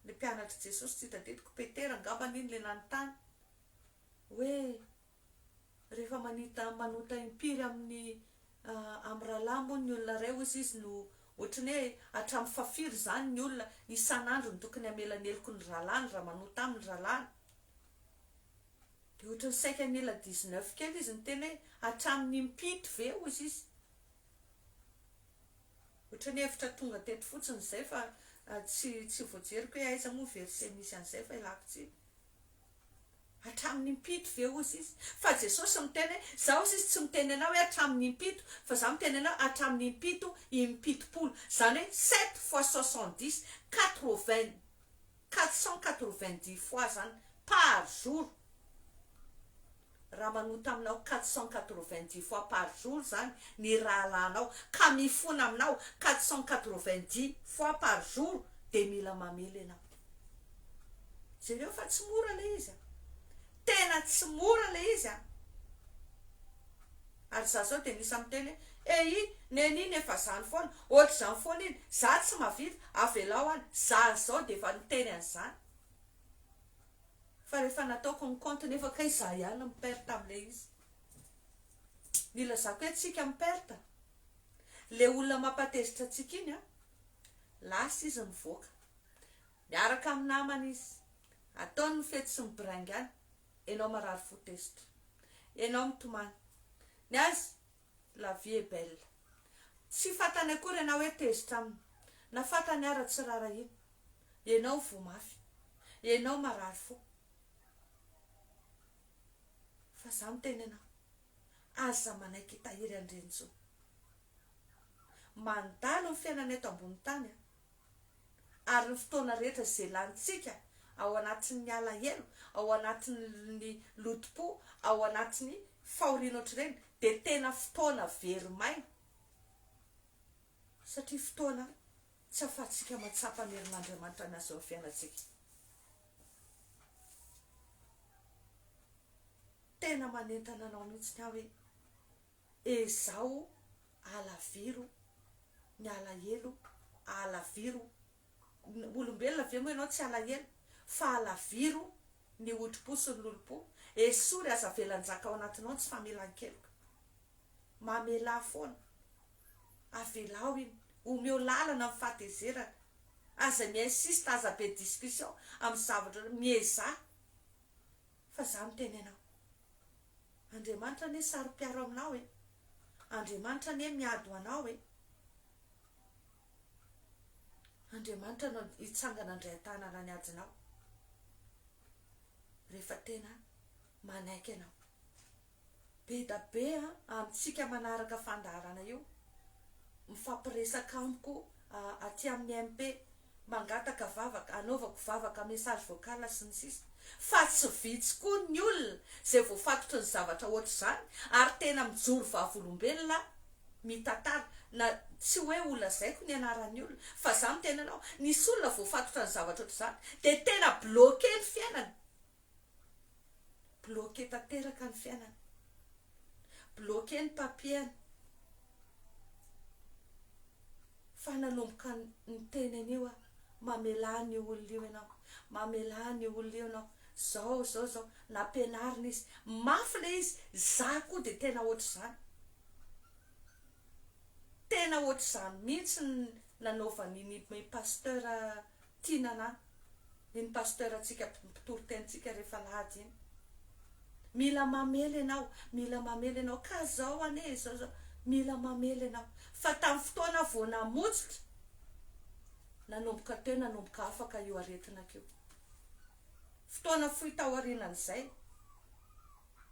Ilay mpianatr'i Jesosy tsy hita teto, ko Petera angamba anie no ilay nanontany hoe, Rehefa manita, manota impiry amin'ny, amin'ny rahalahy moa ny olona iray, hoy izy no ohatry ny hoe hatramin'ny fahafiry izany ny olona isan'andro no tokony hamela ny heloky ny rahalahiny raha manota aminy ny rahalahiny? Dia ohatry ny saika nila dix neuf kely izy niteny hoe, hatramin'ny impito ve? hoy izy. Ohatran'ny hevitra tonga teto fotsiny izay fa tsy tsy voajeriko hoe aiza moa ny verset misy an'izay fa ialako tsiny. Hatramin'ny impito ve hozy izy? Fa Jesosy miteny hoe za hozy izy tsy miteny anao hoe hatramin'ny impito fa za miteny anao hatramin'ny impito im-pitopolo zany hoe sept fois soixante dix, quatre vingt, quatre cent quatre vingt dix fois zany par jour. Raha manota aminao quatre cent quatre-vingt-dix fois par jour izany ny rahalahinao ka mifona aminao quatre cent quatre-vingt-dix fois par jour dia mila mamely ianao. Jereo fa tsy mora ilay izy an! Tena tsy mora ilay izy an! Ary izaho izao dia misy miteny hoe, Eyy, neny iny efa izany foana, ohatr'izany foana iny, izaho tsy mahavita, avelao any. Izaho izao dia efa niteny an'izany. fa rehefa nataoko ny compte nefa kay za ihany no mi-perte amle izy ny ilazako hoe tsika mi-perte le olona mampatezitra antsika iny an lasa izy mivoaka miaraka amin'ny namany izy ataony ny fety sy mibraingana enao marary fo tezitra enao mitomany ny azy La vie est belle. Tsy fantany akory ianao hoe tezitra aminy. Na fantany ara tsy rarahiana. Ianao voa mafy. Ianao marary fo. Fa za miteny anao. Aza manaiky hitahiry an-drenjo. Mandalo ny fiainana eto ambony tany a. ary ny fotoana rehetra izay lanintsika ao anatin'ny alahelo, ao anatin'ny lotom-po, ao anatin'ny fahoriana ohatr'ireny dia tena fotoana very maina satria fotoana tsy ahafahantsika mahatsapa ny herin'Andriamanitra miasa eo amin'ny fiainantsika. Tena manentana anao mihitsy ny ahy hoe. Ezaho alaviro ny alahelo alaviro ny, olombelona ve moa ianao tsy alahelo? fa alaviro ny hodipo sy ny lolompo, esory aza avela njaka ao anatinao ny tsy famelan-keloka, mamelà foana, avelao iny, omeo lalana ny fahatezerana, aza mi-insiste, aza be discussion amin'ny zavatra, miezaha. Fa za miteny anao. Andriamanitra anie saro-piaro aminao e. Andriamanitra anie miady ho anao e. Andriamanitra no hitsangana handray an-tanana ny adinao rehefa tena manaiky anao. be da be amintsika manaraka fandaharana io, mifampiresaka amiko aty amin'ny MP, mangataka vavaka, anaovako vavaka, message vocal sy ny sisa Fa tsy vitsy koa ny olona izay voafatotry ny zavatra ohatr'izany ary tena mijoro vavolombelona mitantara na tsy hoe ho lazaiko ny anaran'ny olona fa za miteny anao, nisy olona voafatotra ny zavatra ohatr'izany dia tena bloquer ny fiainany Bloquer tanteraka ny fiainany. Bloquer ny papier-ny. Fa nanomboka niteny an'io aho, mamelà an'io olona io ianao, mamelà an'io olona io ianao, zao, zao, zao. Nampianarina izy. Mafy ilay izy. Za koa dia tena ohatr'izany. Tena ohatr'izany mihitsy ny nanaovan'iny pasteur Tia Nana, iny Pasteur ntsika mpitory teny tsika rehefa alahady iny. Mila mamely ianao, mila mamely ianao, ka zao anie izao zao, mila mamely ianao, fa tamin'ny fotoana vao namotsitra, nanomboka teo nanomboka afaka io aretina ko. Fotoana fohy taorinan'izay,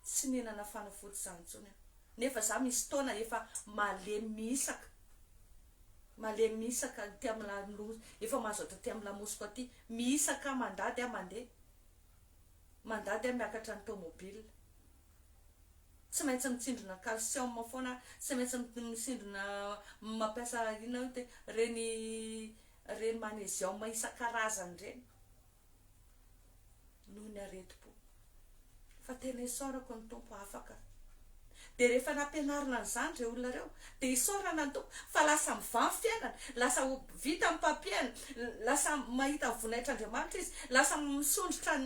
tsy nihinana fanafody zany intsony aho, nefa za misy taona efa malemy mihisaka. Malemy mihisa ka aty am la loza efa mazoto aty am lamosiko aty mihisa ka mandady ah mande mandady ah miakatra ny tomobile tsy maintsy mitsindrona calcium foana ah tsy maintsy misindrona mampiasa inona io te reny reny magnesium isan-karazany reny noho ny aretim-po, fa tena isaorako ny Tompo afaka. Dia rehefa nampianarina an'izany ireo olona ireo, dia isaorana ny Tompo fa lasa mivaha ny fiainany, lasa ho vita ny papier-ny, lasa mahita ny voninahitr'Andriamanitra izy, lasa misondrotra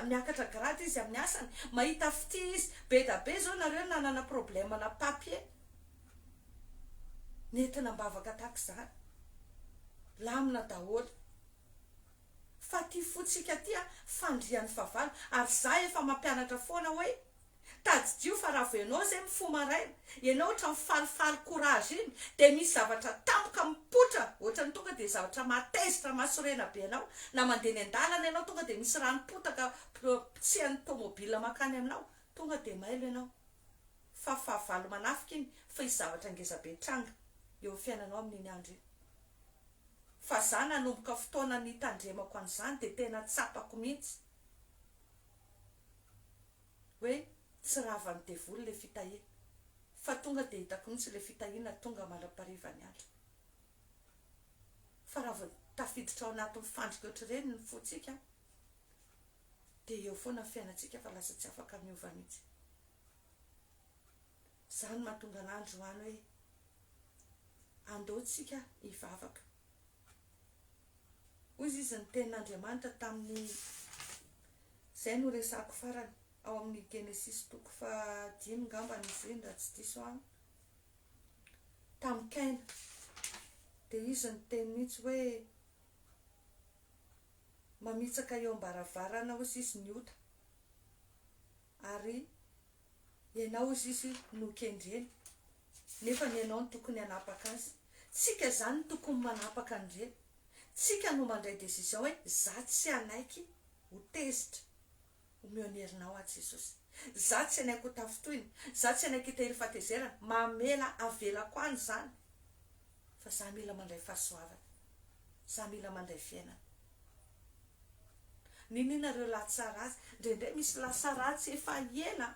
miakatra grade izy amin'ny asany, mahita fitia izy. Be da be izao nareo nanana problème-na papier, nentina am-bavaka tahaka izany, lamina daholo. Fa ty fo tsika ty a fandrian'ny fahavalo ary za efa mampianatra foana hoe tadidio fa raha vao ianao zay mifoha maraina ianao ohatran'ny falifaly courage iny dia misy zavatra tampoka mipoitra ohatran'ny tonga dia zavatra mahatezitra mahasorena be anao na mandeha eny an-dalana ianao tonga dia misy rano potaka potsihan'ny tomobile mankany aminao tonga dia mailo ianao fa fahavalo manafika iny fa hisy zavatra ngeza be hitranga eo amin'ny fiainanao amin'iny andro iny. Fa za nanomboka fotoana nitandremako an'izany dia tena tsapako mihitsy hoe tsy ravan'ny devoly ilay fitahiana fa tonga dia hitako mihitsy ilay fitahiana tonga mandra-pahariva ny andro fa raha vao tafiditra ao anatin'ny fandrika ohatr'ireny ny fontsika dia eo foana ny fiainantsika fa lasa tsy afaka miova mihitsy Izany no mahatonga anah androany hoe andao tsika hivavaka. Hoy izy ny tenin'Andriamanitra tamin'ny izay no resako farany ao amin'ny Genesisy toko faha dimy ngambany izy iny raha tsy diso aho tamin'i Kaina dia izy niteny mihitsy hoe mamitsaka eo am-baravarana hozy izy ny ota ary Ianao hozy izy no kendreny nefa ny ianao no tokony hanapaka azy. Tsika izany no tokony manapaka an'ireny. Tsika no mandray décision hoe za tsy hanaiky ho tezitra. Omeo ny herinao aho Jesosy. Za tsy hanaiky ho tafintohina. Za tsy hanaiky hitahiry fahatezerana. Mamela avelako any izany. Fa za mila mandray fahasoavana. Za mila mandray fiainana. Nenina reo lahy tsara azy. Ndraindray misy lasa ratsy efa ela.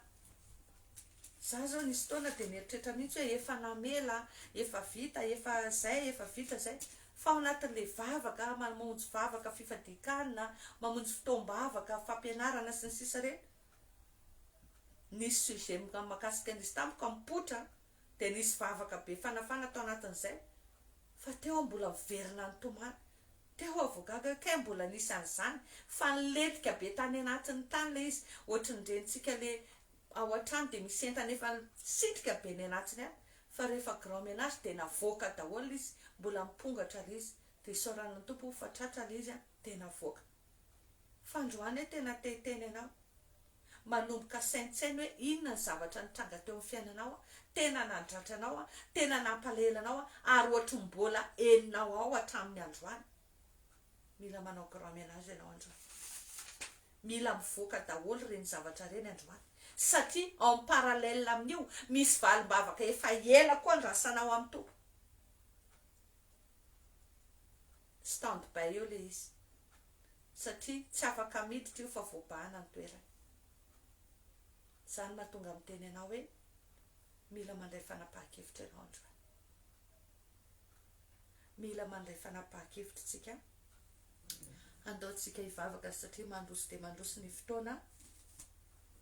Za zao nisy fotoana dia nieritreritra mihitsy hoe efa namela, efa vita, efa zay, efa vita zay. Fa ao anatin'ilay vavaka, mamonjy vavaka fifadian-kanina, mamonjy fotoam-bavaka fampianarana sy ny sisa ireny, nisy sujet mikasika an'izy tamiko, am-potra, dia nisy vavaka be fanafana tao anatin'izay fa teo aho mbola miverina nitomany, teo aho vao gaga hoe kay mbola nisy an'izany fa nilentika be tany anatiny tany ilay izy, ohatry ny renitsika le ao an-trano dia misy entana efa nisitrika be ny anatiny any fa rehefa grand menage dia navoaka daholo izy, mbola mipongatra ilay izy dia isaorana ny Tompo fa tratra ilay izy dia navoaka. Fandroana e tena te hiteny anao manomboka saintsaino hoe inona ny zavatra nitranga teo amin'ny fiainanao a, tena nadratra anao a, tena nampalahelo anao a, ary ohatry ny mbola henonao ao hatramin'ny androany. Mila manao grand menage ianao androany. Mila mivoaka daholo ireny zavatra ireny androany satria en parallèle amin'io misy valim-bavaka efa ela koa andrasanao amin'ny Tompo. Stand by eo le izy satria tsy afaka miditra io fa voabahana ny toerany. Zany mahatonga miteny anao hoe mila mandray fanapahan-kevitra ianao androany. Mila mandray fanapahan-kevitra tsika andao tsika hivavaka satria mandroso dia mandroso ny fotoana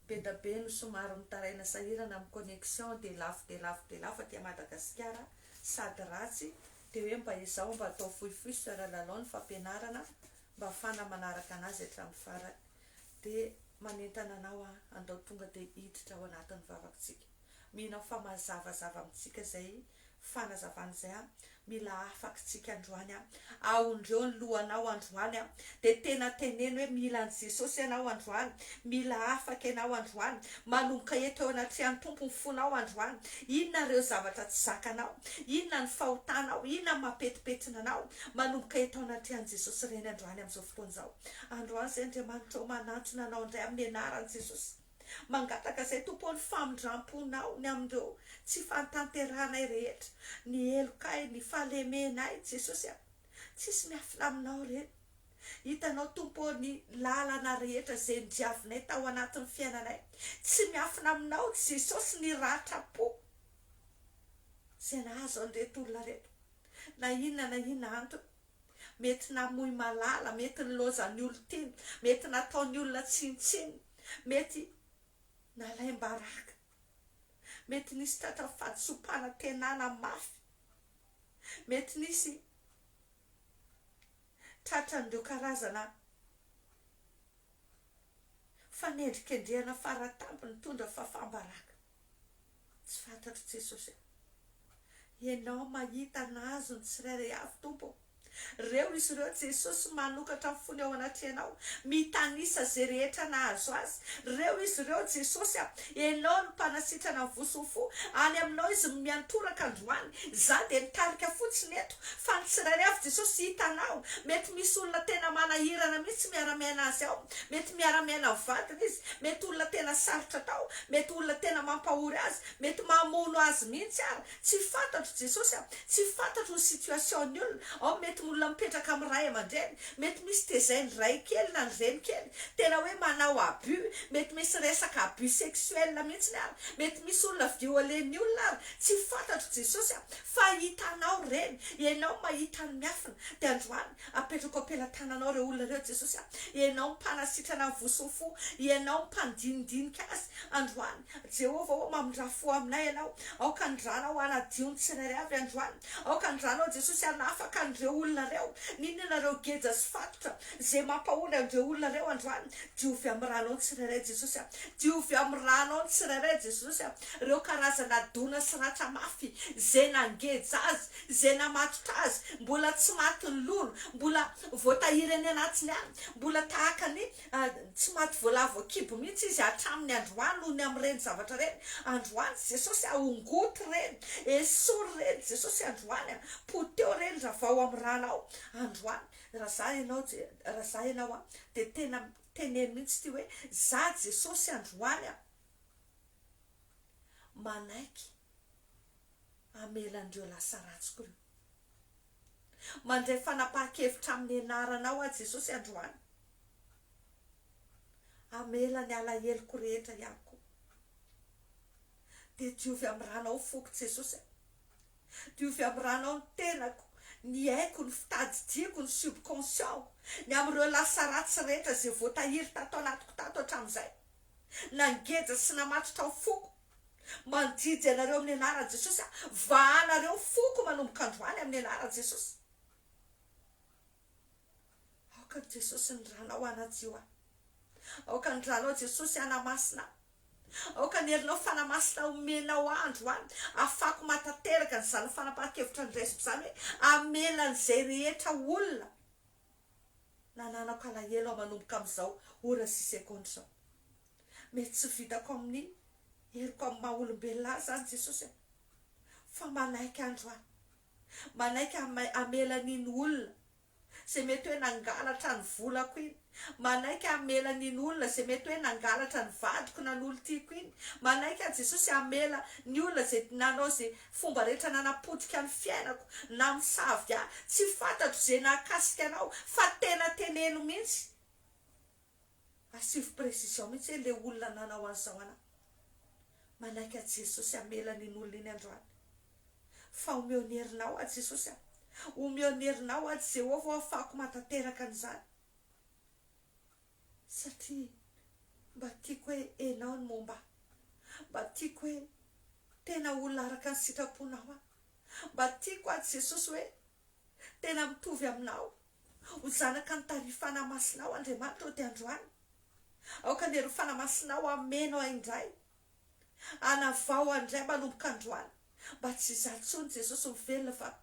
be da be no somary mitaraina sahirana amin'ny connexion dia lafo dia lafo dia lafo aty Madagasikara sady ratsy Dia hoe mba ezaho mba atao fohifohy soeur lalao ny fampianarana mba afahana manaraka anazy hatramin'ny farany. Dia manentana anao aho handao tonga dia hiditra ao anatin'ny vavako tsika. Mino aho fa mazavazava amintsika izay fanazavana izay. Mila afakitsika androany. Aondreo ny lohanao androany. dia tena teneno hoe mila an'i Jesosy ianao androany, mila afaka ianao androany, manomboka eto eo anatrehan'ny Tompo ny fonao androany, inona ireo zavatra tsy zakanao, inona ny fahotanao, inona ny mampetipetina anao, manomboka eto anatrehan'i Jesosy ireny androany amin'izao fotoana izao. Androany izay Andriamanitra ô, manantona anao indray amin'ny anaran'i Jesosy, mangataka izay Tompo ô ny famindramponao ny amin'ireo tsy fahatanterahanay rehetra, ny helokay, ny fahalemenay Jesosy a. Tsisy miafina aminao re. Hitanao Tompo ô ny lalana rehetra izay nodiavinay tao anatin'ny fiainanay. Tsy miafina aminao Jesosy ny ratram-po izay nahazo an'ireto olona reto. Na inona na inona antony. Mety namoy malala, mety nilaozan'ny olon-teny, mety nataon'ny olona tsinontsinona, mety nalaim-baraka. Mety nisy tratra fahadisoam-panantenana mafy. Mety nisy tratran'ireo karazana fanendrikendrehana fara-tampony nitondra fahafaham-baraka. Tsy fantatro Jesosy a. Ianao mahita nahazo ny tsirairay avy Tompo ô. Reo izy ireo Jesosy manokatra ny fony ao anatrehanao mitanisa ze rehetra nahazo azy Reo izy ireo Jesosy a enao no mpanasitrana ny voson'ny fo any aminao izy no miantoraka androany za de mitarika fotsiny eto fa ny tsirairay avy Jesosy hitanao mety misy olona tena manahirana mihitsy miara miaina azy ao mety miara miaina ny vadiny izy mety olona tena sarotra atao mety olona tena mampahory azy mety mamono azy mihitsy ary Tsy fantatro Jesosy a! Tsy fantatro ny situation ny olona, ao mety ny olona mipetraka amin'ny ray aman-dreny, mety misy tezain'ny ray kely na ny reny kely, tena hoe manao abus, mety misy resaka abus sexuel mihitsiny ary, mety misy olona violen'ny olona ary, tsy fantatro Jesosy a! Fa hitanao ireny, ianao mahita ny miafina, dia androany apetrako am-pelatananao ireo olona ireo Jesosy a! Ianao mpanasitrana ny voson'ny fo, ianao mpandinindinika azy, androany Jehovah ô, mamindrà fo aminay ianao. Aoka ny Ranao hanadio ny tsirairay avy androany. Aoka ny Ranao, Jesosy, hanafaka an'ireo olona ireo. Nino ianareo geja sy fatotra, izay mampahory an'ireo olona ireo androany. Diovy amin'ny Ranao ny tsirairay, Jesosy a. Diovy amin'ny Ranao ny tsirairay, Jesosy a, ireo karazana dona sy ratra mafy, izay nangeja Azy, izay namatotra Azy, mbola tsy matin'ny lolo, mbola voatahiry any anatiny any, mbola tahaka ny. Tsy maty voalavo voakibo mihitsy izy hatramin'ny androany noho ny amin'ireny zavatra ireny. Androany Jesosy a! Ongoty ireny! Esory ireny Jesosy androany a! Poteho ireny ravao amin'ny rànao androany! Raha izaho ianao Je, raha izaho ianao a! dia tena teneno mihitsy ity hoe, izaho Jesosy androany a! manaiky hamela an'ireo lasa ratsiko ireo. Mandray fanapahan-kevitra amin'ny anaranao aho Jesosy androany. Hamela ny alaheloko rehetra ihany koa. Dia diovy amin'ny ranao ny foko Jesosy a! Diovy amin'ny ranao ny tenako, ny aiko, ny fitadidiako, ny subconscient-ko, ny amin'ireo lasa ratsy rehetra izay voatahiry tato anatiko tato hatramin'izay. Nangeja sy namatotra ny foko. Mandidy anareo amin'ny anaran'i Jesosy aho. Vahanareo foko manomboka androany amin'ny anaran'i Jesosy. Aoka ny Jesosy ny Ranao hanadio ahy. Aoka ny Ranao Jesosy hanamasina ahy. Aoka ny herinao fanamasina omenao ahy androany afako matateraka an'izany fanapahan-kevitra andraisiko izany hoe hamela an'izay rehetra olona nananako alahelo ahy manomboka amin'izao ora sy seconde izao. Mety tsy vitako amin'ny heriko amin'ny maha olombelona ahy izany Jesosy aho fa manaiky androany. Manaiky hamela an'iny olona izay mety hoe nangalatra ny volako iny. Manaiky hamela an'iny olona izay mety hoe nangalatra ny vadiko na ny olon-tiako iny. Manaiky aho Jesosy hamela ny olona izay nanao izay fomba rehetra nanapotika ny fiainako na misavika ahy. Tsy fantatro izay nahakasika anao fa tena teneno mihitsy. Asivo précision mihitsy hoe le olona nanao an'izao anah. Manaiky an'i Jesosy hamela an'iny olona iny androany. Fa omeo ny herinao aho Jesosy a. Omeo ny herinao aho Jehovah o hahafahako matateraka an'izany. Satria mba tiako hoe enao ny momba ahy. Mba tiako hoe tena olona araka ny sitraponao aho. Mba tiako aho Jesosy hoe Tena mitovy aminao ho zanaka ny tary fanamasinao Andriamanitra ody androany Aoka ny hery fanamasinao hameno ahy indray Hanavao ahy indray manomboka androany Mba tsy izaho intsony Jesosy mivelona fa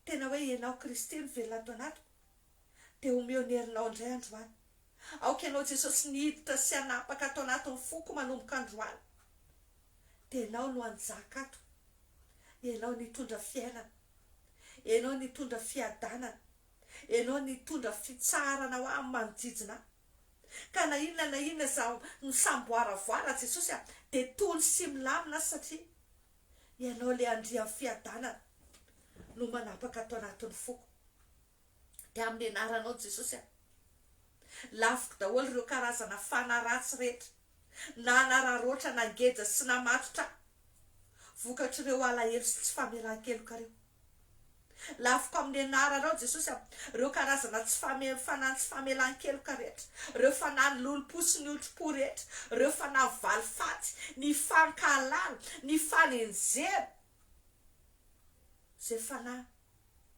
Tena hoe ianao Kristy no velona ato anatiko Dia omeo ny herinao indray androany. Aoka Ianao Jesosy ny hiditra sy hanapaka ato anatin'ny foko manomboka androany. Dia Ianao no hanjaka ato. Ianao no hitondra fiainana. Ianao no hitondra fiadanana. Ianao no hitondra fitsaharana ho ahy manodidina ahy. Ka na inona na inona izay misamboaravoara aho Jesosy a, dia tony sy milamina aho satria Ianao ilay Andrian'ny fiadanana no manapaka ato anatin'ny foko. dia amin'ny anaranao Jesosy a! Laviko daholo ireo karazana fana ratsy rehetra nanararoatra nangeja sy namatotra ahy vokatr'ireo alahelo sy tsy famelan-keloka ireo. Laviko amin'ny anaranao Jesosy a! Ireo karazana tsy fame fanahy tsy famelan-keloka rehetra, ireo fanahy nilolom-po sy niotro-po rehetra, ireo fanahy valifaty, ny fankahalana, ny fanenjehana, Izay fanahy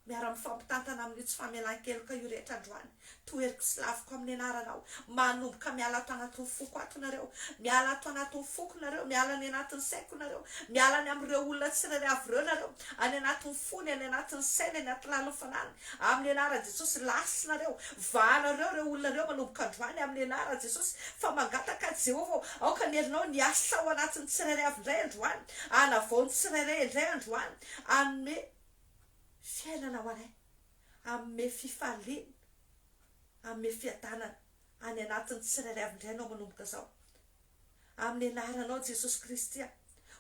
miara mifampitantana amin'io tsy famelan-keloka io rehetra androany, toheriko sy laviko amin'ny anaranao, manomboka miala ato anatin'ny foko ato nareo, miala ato anatin'ny foko nareo, miala any anatin'ny saiko nareo, miala any amin'ireo olona tsirairay avy ireo nareo, any anatin'ny fony, any anatin'ny sainy, any anaty lalin'ny fanahiny, amin'ny anaran'i Jesosy, lasa nareo, vahanareo ireo olona ireo manomboka androany amin'ny anaran'i Jesosy, fa mangataka aho Jehovah ô, aoka ny herinao ny hasa ao anatin'ny tsirairay avy indray androany, Hanavao ny tsirairay indray androany, hanome fiainana ho anay, hanome fifaliana, hanome fiadanana any anatin'ny tsirairay avy indray Ianao manomboka izao. Amin'ny Anaranao Jesosy Kristy aho,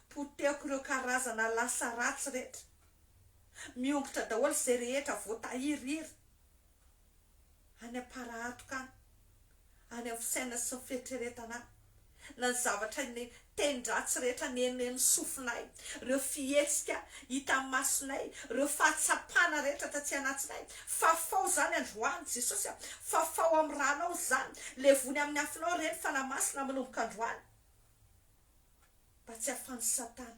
potehiko ireo karazana lasa ratsy rehetra. Miongotra daholo izay rehetra voatahirihiry. any am-parahatoka any, any amin'ny fisainana sy ny fieritreretana any, na ny zavatra ny tenin-dratsy rehetra nenen'ny sofinay, ireo fihetsika hitan'ny masonay, ireo fahatsapana rehetra taty anatnay, fafao izany androany Jesosy a, fafao amin'ny ranao izany, levony amin'ny afonao ireny fanahy masina manomboka androany, mba tsy ahafan'i satana.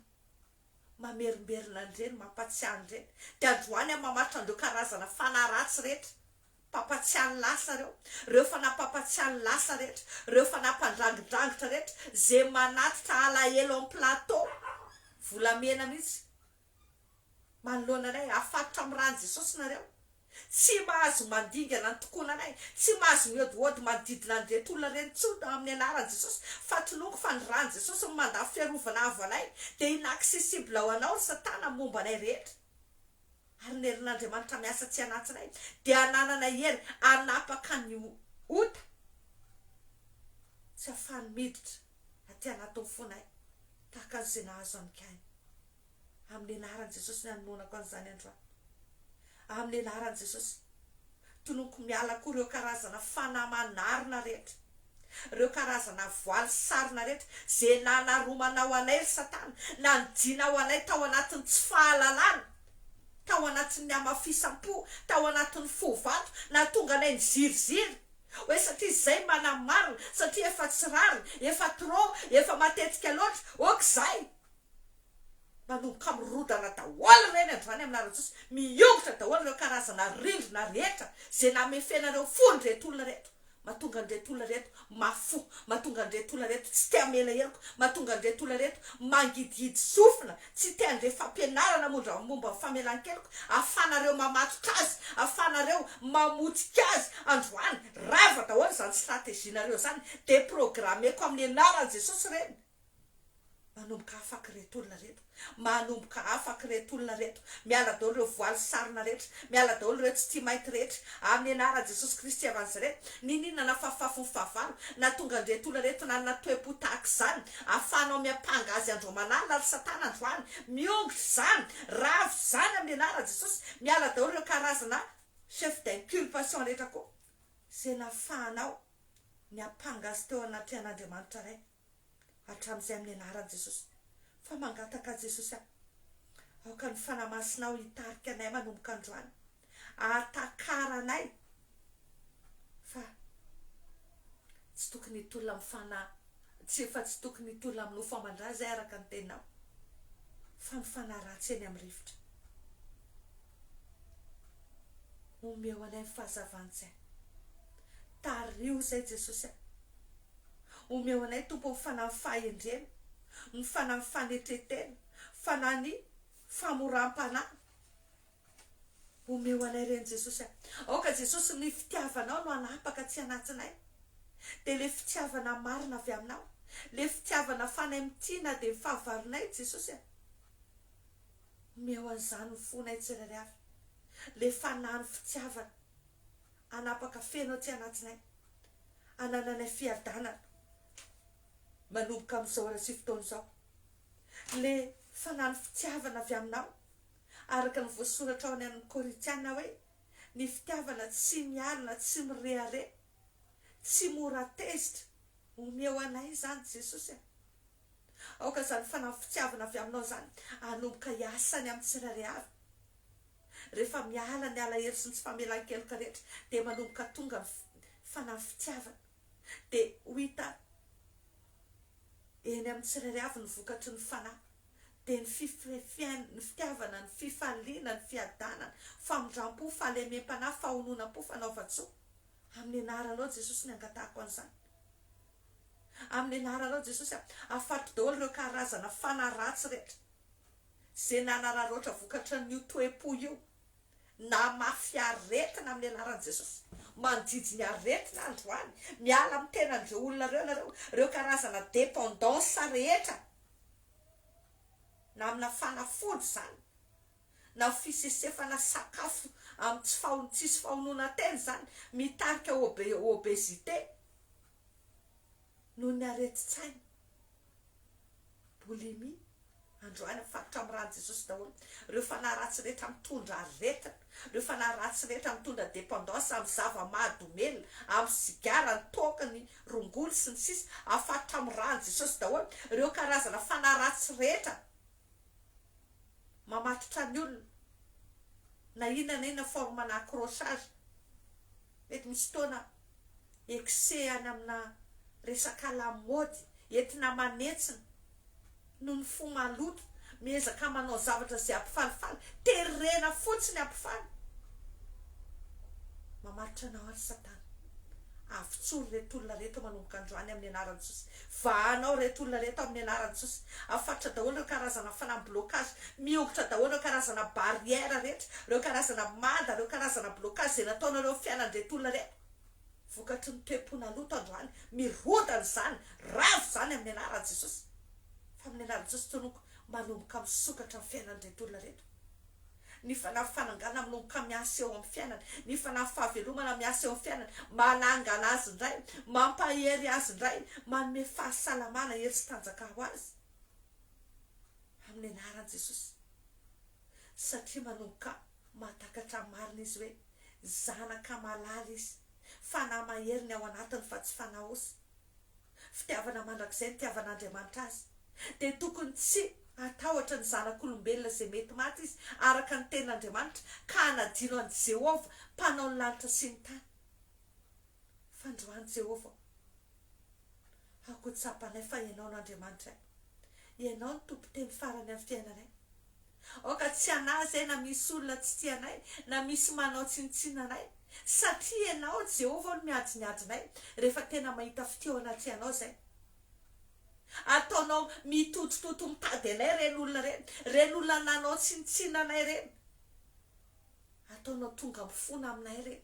Mamerimberina an'ireny, mampatsiahy an'ireny. Dia androany aho mamaritra an'ireo karazana fanahy ratsy rehetra, mpampatsiahy ny lasa ireo, ireo fanahy mpampatsiahy ny lasa rehetra, ireo fanahy mpandrangidrangitra rehetra, izay manatitra alahelo amin'ny plateau, volamena mihitsy, manoloana anay. Afatotra amin'ny ran'i Jesosy nareo, Tsy mahazo mandingana ny tokonanay, tsy mahazo mihodihody manodidina an'ireto olona ireny intsony amin'ny anaran'i Jesosy, fa toloiko fa ny ran'i Jesosy no mandà fiarovana avo anay, dia inaccessible ho anao ry satana momba anay rehetra, ary ny herin'Andriamanitra miasa atsy anatinay dia hananana hery hanapaka ny ota tsy hahafahany miditra aty anatin'ny fonay tahaka an'izay nahazo an'i Kaina. Amin'ny anaran'i Jesosy ny anoanako an'izany androany. Amin'ny anaran'i Jesosy. Tononiko miala koa ireo karazana fanahy manarina rehetra. Ireo karazana voaly sarona rehetra izay nanaromanao anay ry satana, nanidinao anay tao anatin'ny tsy fahalalana, tao anatin'ny hamafisam-po, tao anatin'ny fo vato, nahatonga anay niziriziry hoe satria izay manamarina, satria efa tsy rariny, efa trop, efa matetika loatra, ok zay. Manomboka mirodana daholo ireny androany amina rajozy, miongotra daholo ireo karazana rindrina rehetra izay namefenareo fo an'ireto olona ireto, mahatonga an'ireto olona ireto mafy fo, mahatonga an'ireto olona ireto tsy te hamela heloka, mahatonga an'ireto olona ireto mangidihidy sofina, tsy te handre fampianarana mondra momba ny famelan-keloka, ahafanareo mamatotra azy, ahafanareo mamotika azy, androany rava daholo izany strategie-nareo izany, deprogrammeko amin'ny anaran'i Jesosy ireny. Manomboka afaka ireto olona ireto, manomboka afaka ireto olona ireto, miala daholo ireo voaly sarona rehetra, miala daholo ireo tsy tia mainty rehetra, amin'ny anaran'i Jesosy Kristy avy Nazareth, niniana nafafafon'ny fahavalo, nahatonga an'ireto olona ireto nanana toe-po tahaka izany, ahafahanao miampanga azy andro aman'alina ry satana androany, miongotra izany, ravo izany amin'ny anaran'i Jesosy, miala daholo ireo karazana chef d'inculpation rehetra koa, izay nahafahanao niampanga azy teo anatrehan'Andriamanitra Ray. hatramin'izay amin'ny anaran'i Jesosy fa mangataka an'i Jesosy aho aoka ny Fanahy Masinao hitarika anay manomboka androany ahatakara anay fa tsy tokony hitolona amin'ny fanahy tsy efa tsy tokony hitolona amin'ny nofo aman-dra izay araka ny teninao fa ny fanahy ratsy eny amin'ny rivotra Omeo anay ny fahazavan-tsaina. Tariho izay Jesosy a. Omeo anay Tompo ny fanahin'ny fahendrena, ny fanahin'ny fanetren-tena, fanahin'ny famoram-panahy. Omeo anay ireny Jesosy a. Aoka Jesosy ny fitiavanao no hanapaka aty anatinay. Dia ilay fitiavana marina avy aminao, ilay fitiavana fanay mitia na dia ny fahavalonay Jesosy a. Omeo an'izany ny fonay tsirairay avy, ilay fanahy ny fitiavana hanapaka feno aty anatinay, hanananay fiadanana manomboka amin'izao ora sy fotoana izao, ilay fanahy ny fitiavana avy aminao, araka ny voasoratra ao any amin'ny Korintiana hoe, Ny fitiavana tsy mialona, tsy mirehareha, tsy mora tezitra. Omeo anay izany Jesosy a. Aoka izany fanahy fitiavana avy aminao izany hanomboka hiasa any amin'ny tsirairay avy. Rehefa miala ny alahelo sy ny tsy famelan-keloka rehetra, dia manomboka tonga ny fanahy fitiavana. Dia ho hita eny amin'ny tsirairay avy ny vokatry ny fanahy. Dia ny fiainana, ny fitiavana, ny fifaliana, ny fiadanana, famindram-po, fahalemem-panahy, fahononam-po, fanaovan-tsoa. Amin'ny anaranao Jesosy no angatahako an'izany. Amin'ny anaranao Jesosy a. Afaty daholo ireo karazana fanahy ratsy rehetra izay nanararaotra vokatran'io toe-po io namafy aretina amin'ny anaran'i Jesosy. Manjijy ny aretina androany. Miala amin'ny tenan'ireo olona ireo ianareo. Ireo karazana dependance rehetra na amina fanafody izany. na fisesefana sakafo amin'ny tsy faho tsisy fahonoana tena izany mitarika obe obésité noho ny aretin-tsaina boulimie androany mifarotra amin'ny ràn'i Jesosy daholo ireo fanahy ratsy rehetra mitondra aretina ireo fanahy ratsy rehetra mitondra dépendance amin'ny zava-mahadomelina amin'ny sigara ny toaka ny rongony sy ny sisa afarotra amin'ny ràn'i Jesosy daholo ireo karazana fanahy ratsy rehetra mamatotra ny olona na inona na inona forme na accrochage mety misy fotoana excès any amina resaka lamaody entina manentsina noho ny fo maloto miezaka manao zavatra izay hampifalifaly terena fotsiny hampifaly mamatotra anao ary satana avotsory reto olona reto manomboka androany amin'ny anaran'i Jesosy Vahana ao reto olona reto amin'ny anaran'i Jesosy. Afaritsa daholo ireo karazana fanam blocage. Miongotra daholo ireo karazana barrière rehetra, ireo karazana mada, ireo karazana blocage izay nataonareo amin'ny fiainan'ireto olona ireto. Vokatry ny toe-pona loto androany, mirodana izany, ravo izany amin'ny anaran'i Jesosy. Fa amin'ny anaran'i Jesosy tononkko, manomboka misokatra ny fiainan'ireto olona ireto. Ny fanahy fanangana mlonka miasa eo amin'ny fiainany, ny fanahy fahavelomana miasa eo amin'ny fiainany, manangana azy indray, mampahery azy indray, manome fahasalamana, hery sy tanjaka ho azy amin'ny anaran'i Jesosy. Satria manomboka mahatakatra ny marina izy hoe zanaka malala izy, fanahy mahery ny ao anatiny fa tsy fanahy osy. fitiavana mandrakizay nitiavan'Andriamanitra azy, dia tokony tsy hatahotra ny zanak'olombelona izay mety maty izy, araka ny tenin'Andriamanitra, ka hanadino an'i Jehovah, Mpanao ny lanitra sy ny tany. Fandroan'i Jehovah. Aoka ho tsapanay fa ianao no Andriamanitray. Ianao no tompon-teny farany amin'ny fiainanay. Aoka tsy hanahy izay na misy olona tsy tia anay, na misy manao tsinontsinona anay, satria Ianao, Jehovah, no miadinhiady anay, rehefa tena mahita fitia ao anaty Ianao izay. Ataonao mitotototo mitady anay ireny olona ireny, ireny olona nanao tsinontsinona anay ireny. Ataonao tonga ampifona aminay re.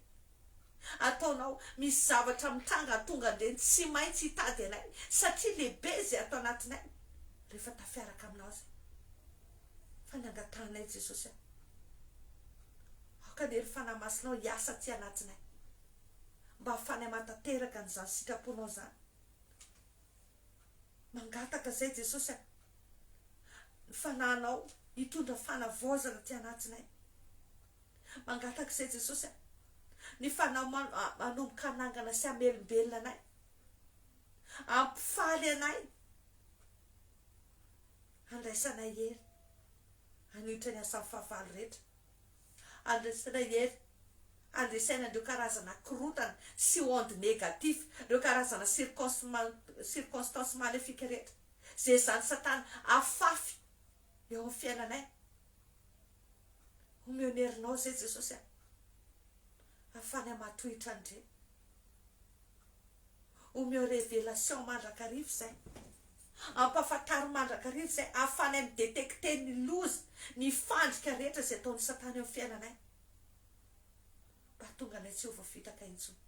Ataonao misy zavatra mitranga tonga dia tsy maintsy hitady anay satria lehibe izay ato anatinay rehefa tafiaraka aminao izay. Fa ny angatahanay Jesosy a. Aoka ny hery fanahy masinao hiasa aty anatinay mba hafany hamatanteraka an'izany sitraponao izany. Mangataka izay Jesosy a! Ny Fanahinao hitondra fanavaozana aty anatinay. Mangataka izay Jesosy a! Ny Fanahy manomboka hanangana sy hamelombelona anay. Hampifaly anay. Handraisanay hery. Haniotra ny asan'ny fahavalo rehetra. Andresena hery, andresena an'ireo karazana korontana sy ondes négatif, ireo karazana circons circonstances maléfiques rehetra izay ezahan'i Satana afafy eo amin'ny fiainanay. Omeo ny herinao izay Jesosy a! Afany hamatohitra an'ireny. Omeo révélation mandrakariva izay. Ampahafantaro mandrakariva izay ahafahanay mi-detecter ny loza, ny fandrika rehetra izay ataon'i Satana eo amin'ny fiainanay, mba hahatonga anay tsy ho voafitaka intsony.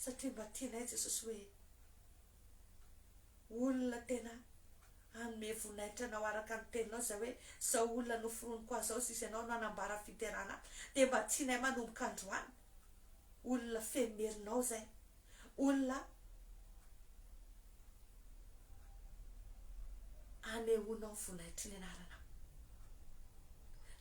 Satria mba tianay Jesosy hoe olona tena hanome voninahitra Anao araka ny Teninao izay hoe, izao olona noforoniko azy izao, sisa Ianao no hanambara fiderana ahy. Dia mba tianay manomboka androany, olona feno merinao izay. olona anehoanao volaitry ny anarana.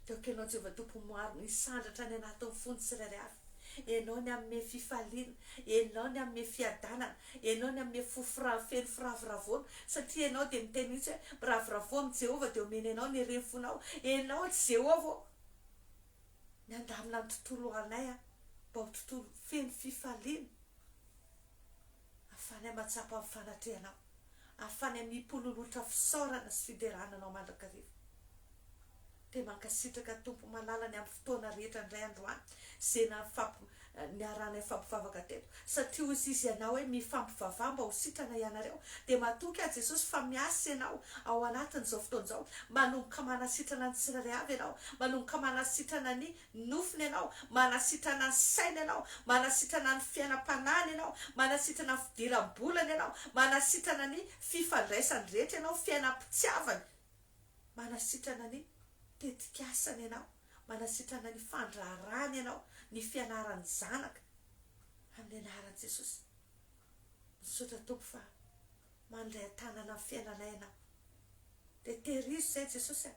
Teo akelanao Jehovah Tompo maro ny sandratra any anatin'ny fony tsirairay avy. Enao ny hanome fifaliana, enao ny hanome fiadanana, enao ny hanome fo firav feno firavoravoana, satria enao dia miteny mihitsy hoe miravoravoa amin'i Jehovah dia omeny anao ny ren'ny fonao. Enao Jehovah ô! Miandamina ny tontolo ho anay aho mba ho tontolo feno fifaliana, ahafahanay mahatsapa ny fanatrehanao, ahafahanay mipololotra fisaorana sy fiderana anao mandrakariva. Dia mankasitraka Tompo malala ny amin'ny fotoana rehetra indray androany, izay niarahanay nifampivavaka teto, satria hoy izy ianao hoe mifampivavaha mba ho sitrana ianareo, dia matoky aho Jesosy fa miasa ianao ao anatin'izao fotoana izao, manomboka manasitrana ny tsirairay avy ianao, manomboka manasitrana ny nofony ianao, manasitrana ny sainy ianao, manasitrana ny fiainam-panahiny ianao, manasitrana ny fidiram-bolany ianao, manasitrana ny fifandraisany rehetra ianao, fiainam-pitiavany, manasitrana ny tetik'asany ianao. manasitrana ny fandraharahany ianao, ny fianarany zanaka amin'ny anaran'i Jesosy. Misaotra Tompo fa mandray an-tanana amin'ny fiainanay ianao. Dia tehirizo izay Jesosy a!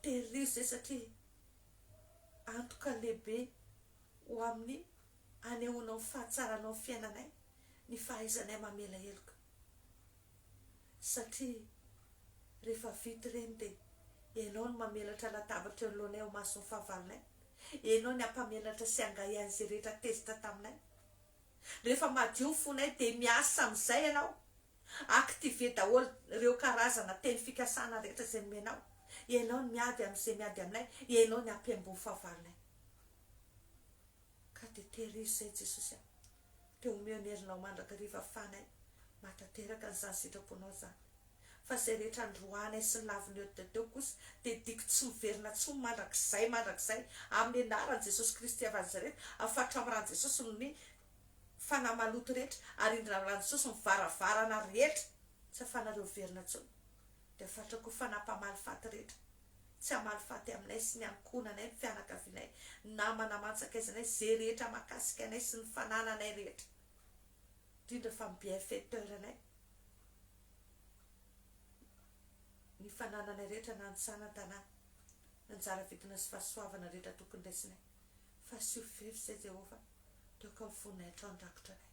Tehirizo izay satria antoka lehibe ho amin'ny anehoanao ny fahatsaranao amin'ny fiainanay ny fahaizanay mamela heloka. satria rehefa vita ireny dia ianao no mamelatra latabatra eo anoloanay ao mason'ny fahavalonay, ianao ny hampamelatra sy hangahy ahy izay rehetra tezitra taminay, rehefa madio ny fonay dia miasa amin'izay ianao, activer daholo ireo karazana teny fikasana rehetra izay nomenao, ianao ny miady amin'izay miady aminay, ianao ny hampihaingo ny fahavalonay. Ka dia tehirizo izay Jesosy a! dia homeo ny herinao mandrakariva fanay mahatateraka an'izany sitraponao izany fa izay rehetra androanay sy laviny eo dia teo kosa dia diko tsy miverina tsony mandrakizay mandrakizay amin'ny anaran'i Jesosy Kristy avy Nazareta afatra amin'ny ran'i Jesosy ny fanahy maloto rehetra ary indrina amin'ny ran'i Jesosy ny varavarana rehetra tsy afanareo hiverina tsony dia afatra koa fanahy mpamaly faty rehetra tsy hamaly faty aminay sy ny ankohonanay, ny fianakavianay, ny namana aman-tsakaizanay, izay rehetra mahakasika anay sy ny fanananay rehetra, indrindra fa ny bienfaiteur-nay, ny fanananay rehetra na ny tsana an-tanà, ny anjara vidina sy fahasoavana rehetra tokony raisinay, fa asio fefy izay Jehovah, toaka ny fonay hatrao ny rakotra anay.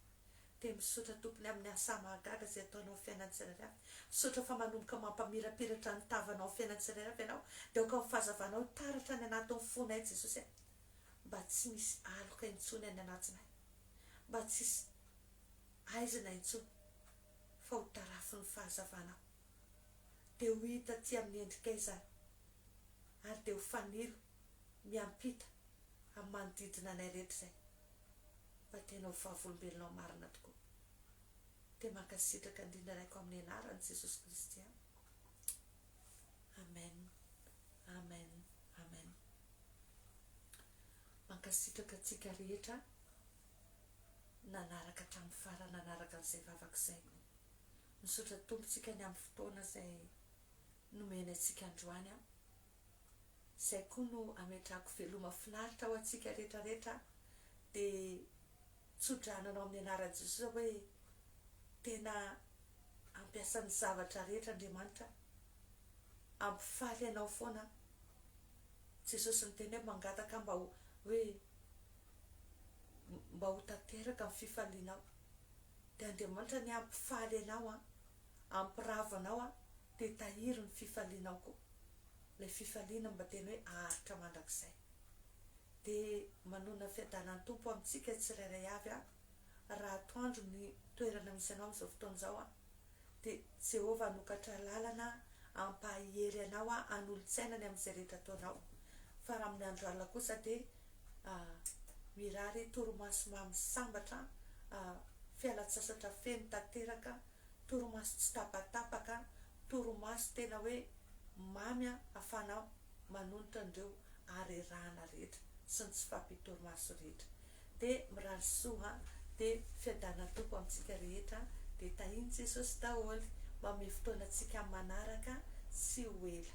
Dia misaotra tompony aminy asa mahagaga izay ataonao fiainany tsirairay avy misaotra fa manomboka mampamirapiratra ny tavanao fiainany tsirairay avy ianao dia aoka ny fahazavanao taratra any anatiny fonay Jesosy a mba tsy misy aloka intsony any anatinay mba tsisy aizina intsony fa ho tarafin'ny fahazavanao dia ho hita aty amin'ny endrikay izany ary dia ho fanilo miampita amin'ny manodidina anay rehetra izay fa tena ho vavolombelonao marina tokoa dia mankasitraka indrindra raiko amin'ny anaran'i Jesosy Kristy an! Amen Amen Amen Mankasitraka antsika rehetra nanaraka hatramin'ny farany nanaraka an'izay vavaka izay misaotra Tompontsika ny amin'ny fotoana izay nomeny antsika androany an! izay koa no ametrahako veloma finaritra ho antsika rehetra rehetra dia tsodrano anao amin'ny anaran'i Jesosy aho hoe tena ampiasa ny zavatra rehetra Andriamanitra ampifaly anao foana Jesosy niteny hoe mangataka mba ho hoe mba ho tanteraka ny fifalianao dia Andriamanitra ny ampifaly anao an Ampiravo anao aho dia tahiry ny fifalianao koa, ilay fifaliana mba tena hoe aharitra mandrakizay. Dia manonona fiadanan'ny Tompo amintsika tsirairay avy aho raha atoandro ny toerana misy anao amin'izao fotoana izao aho, dia Jehovah hanokatra lalana hampahery anao aho hanolo-tsaina ny amin'izay rehetra ataonao, fa raha amin'ny andro alina kosa dia ah mirary torimaso mamy sambatra ah fialan-tsasatra feno tanteraka torimaso tsy tapatapaka, torimaso tena hoe mamy afahana manonitra an'ireo harerahana rehetra sy ny tsy fahampian-torimaso rehetra. Dia mirary soa dia fiadanan'ny Tompo amintsika rehetra dia tahian'i Jesosy daholo. Mamehy fotoana antsika amin'ny manaraka tsy ho ela.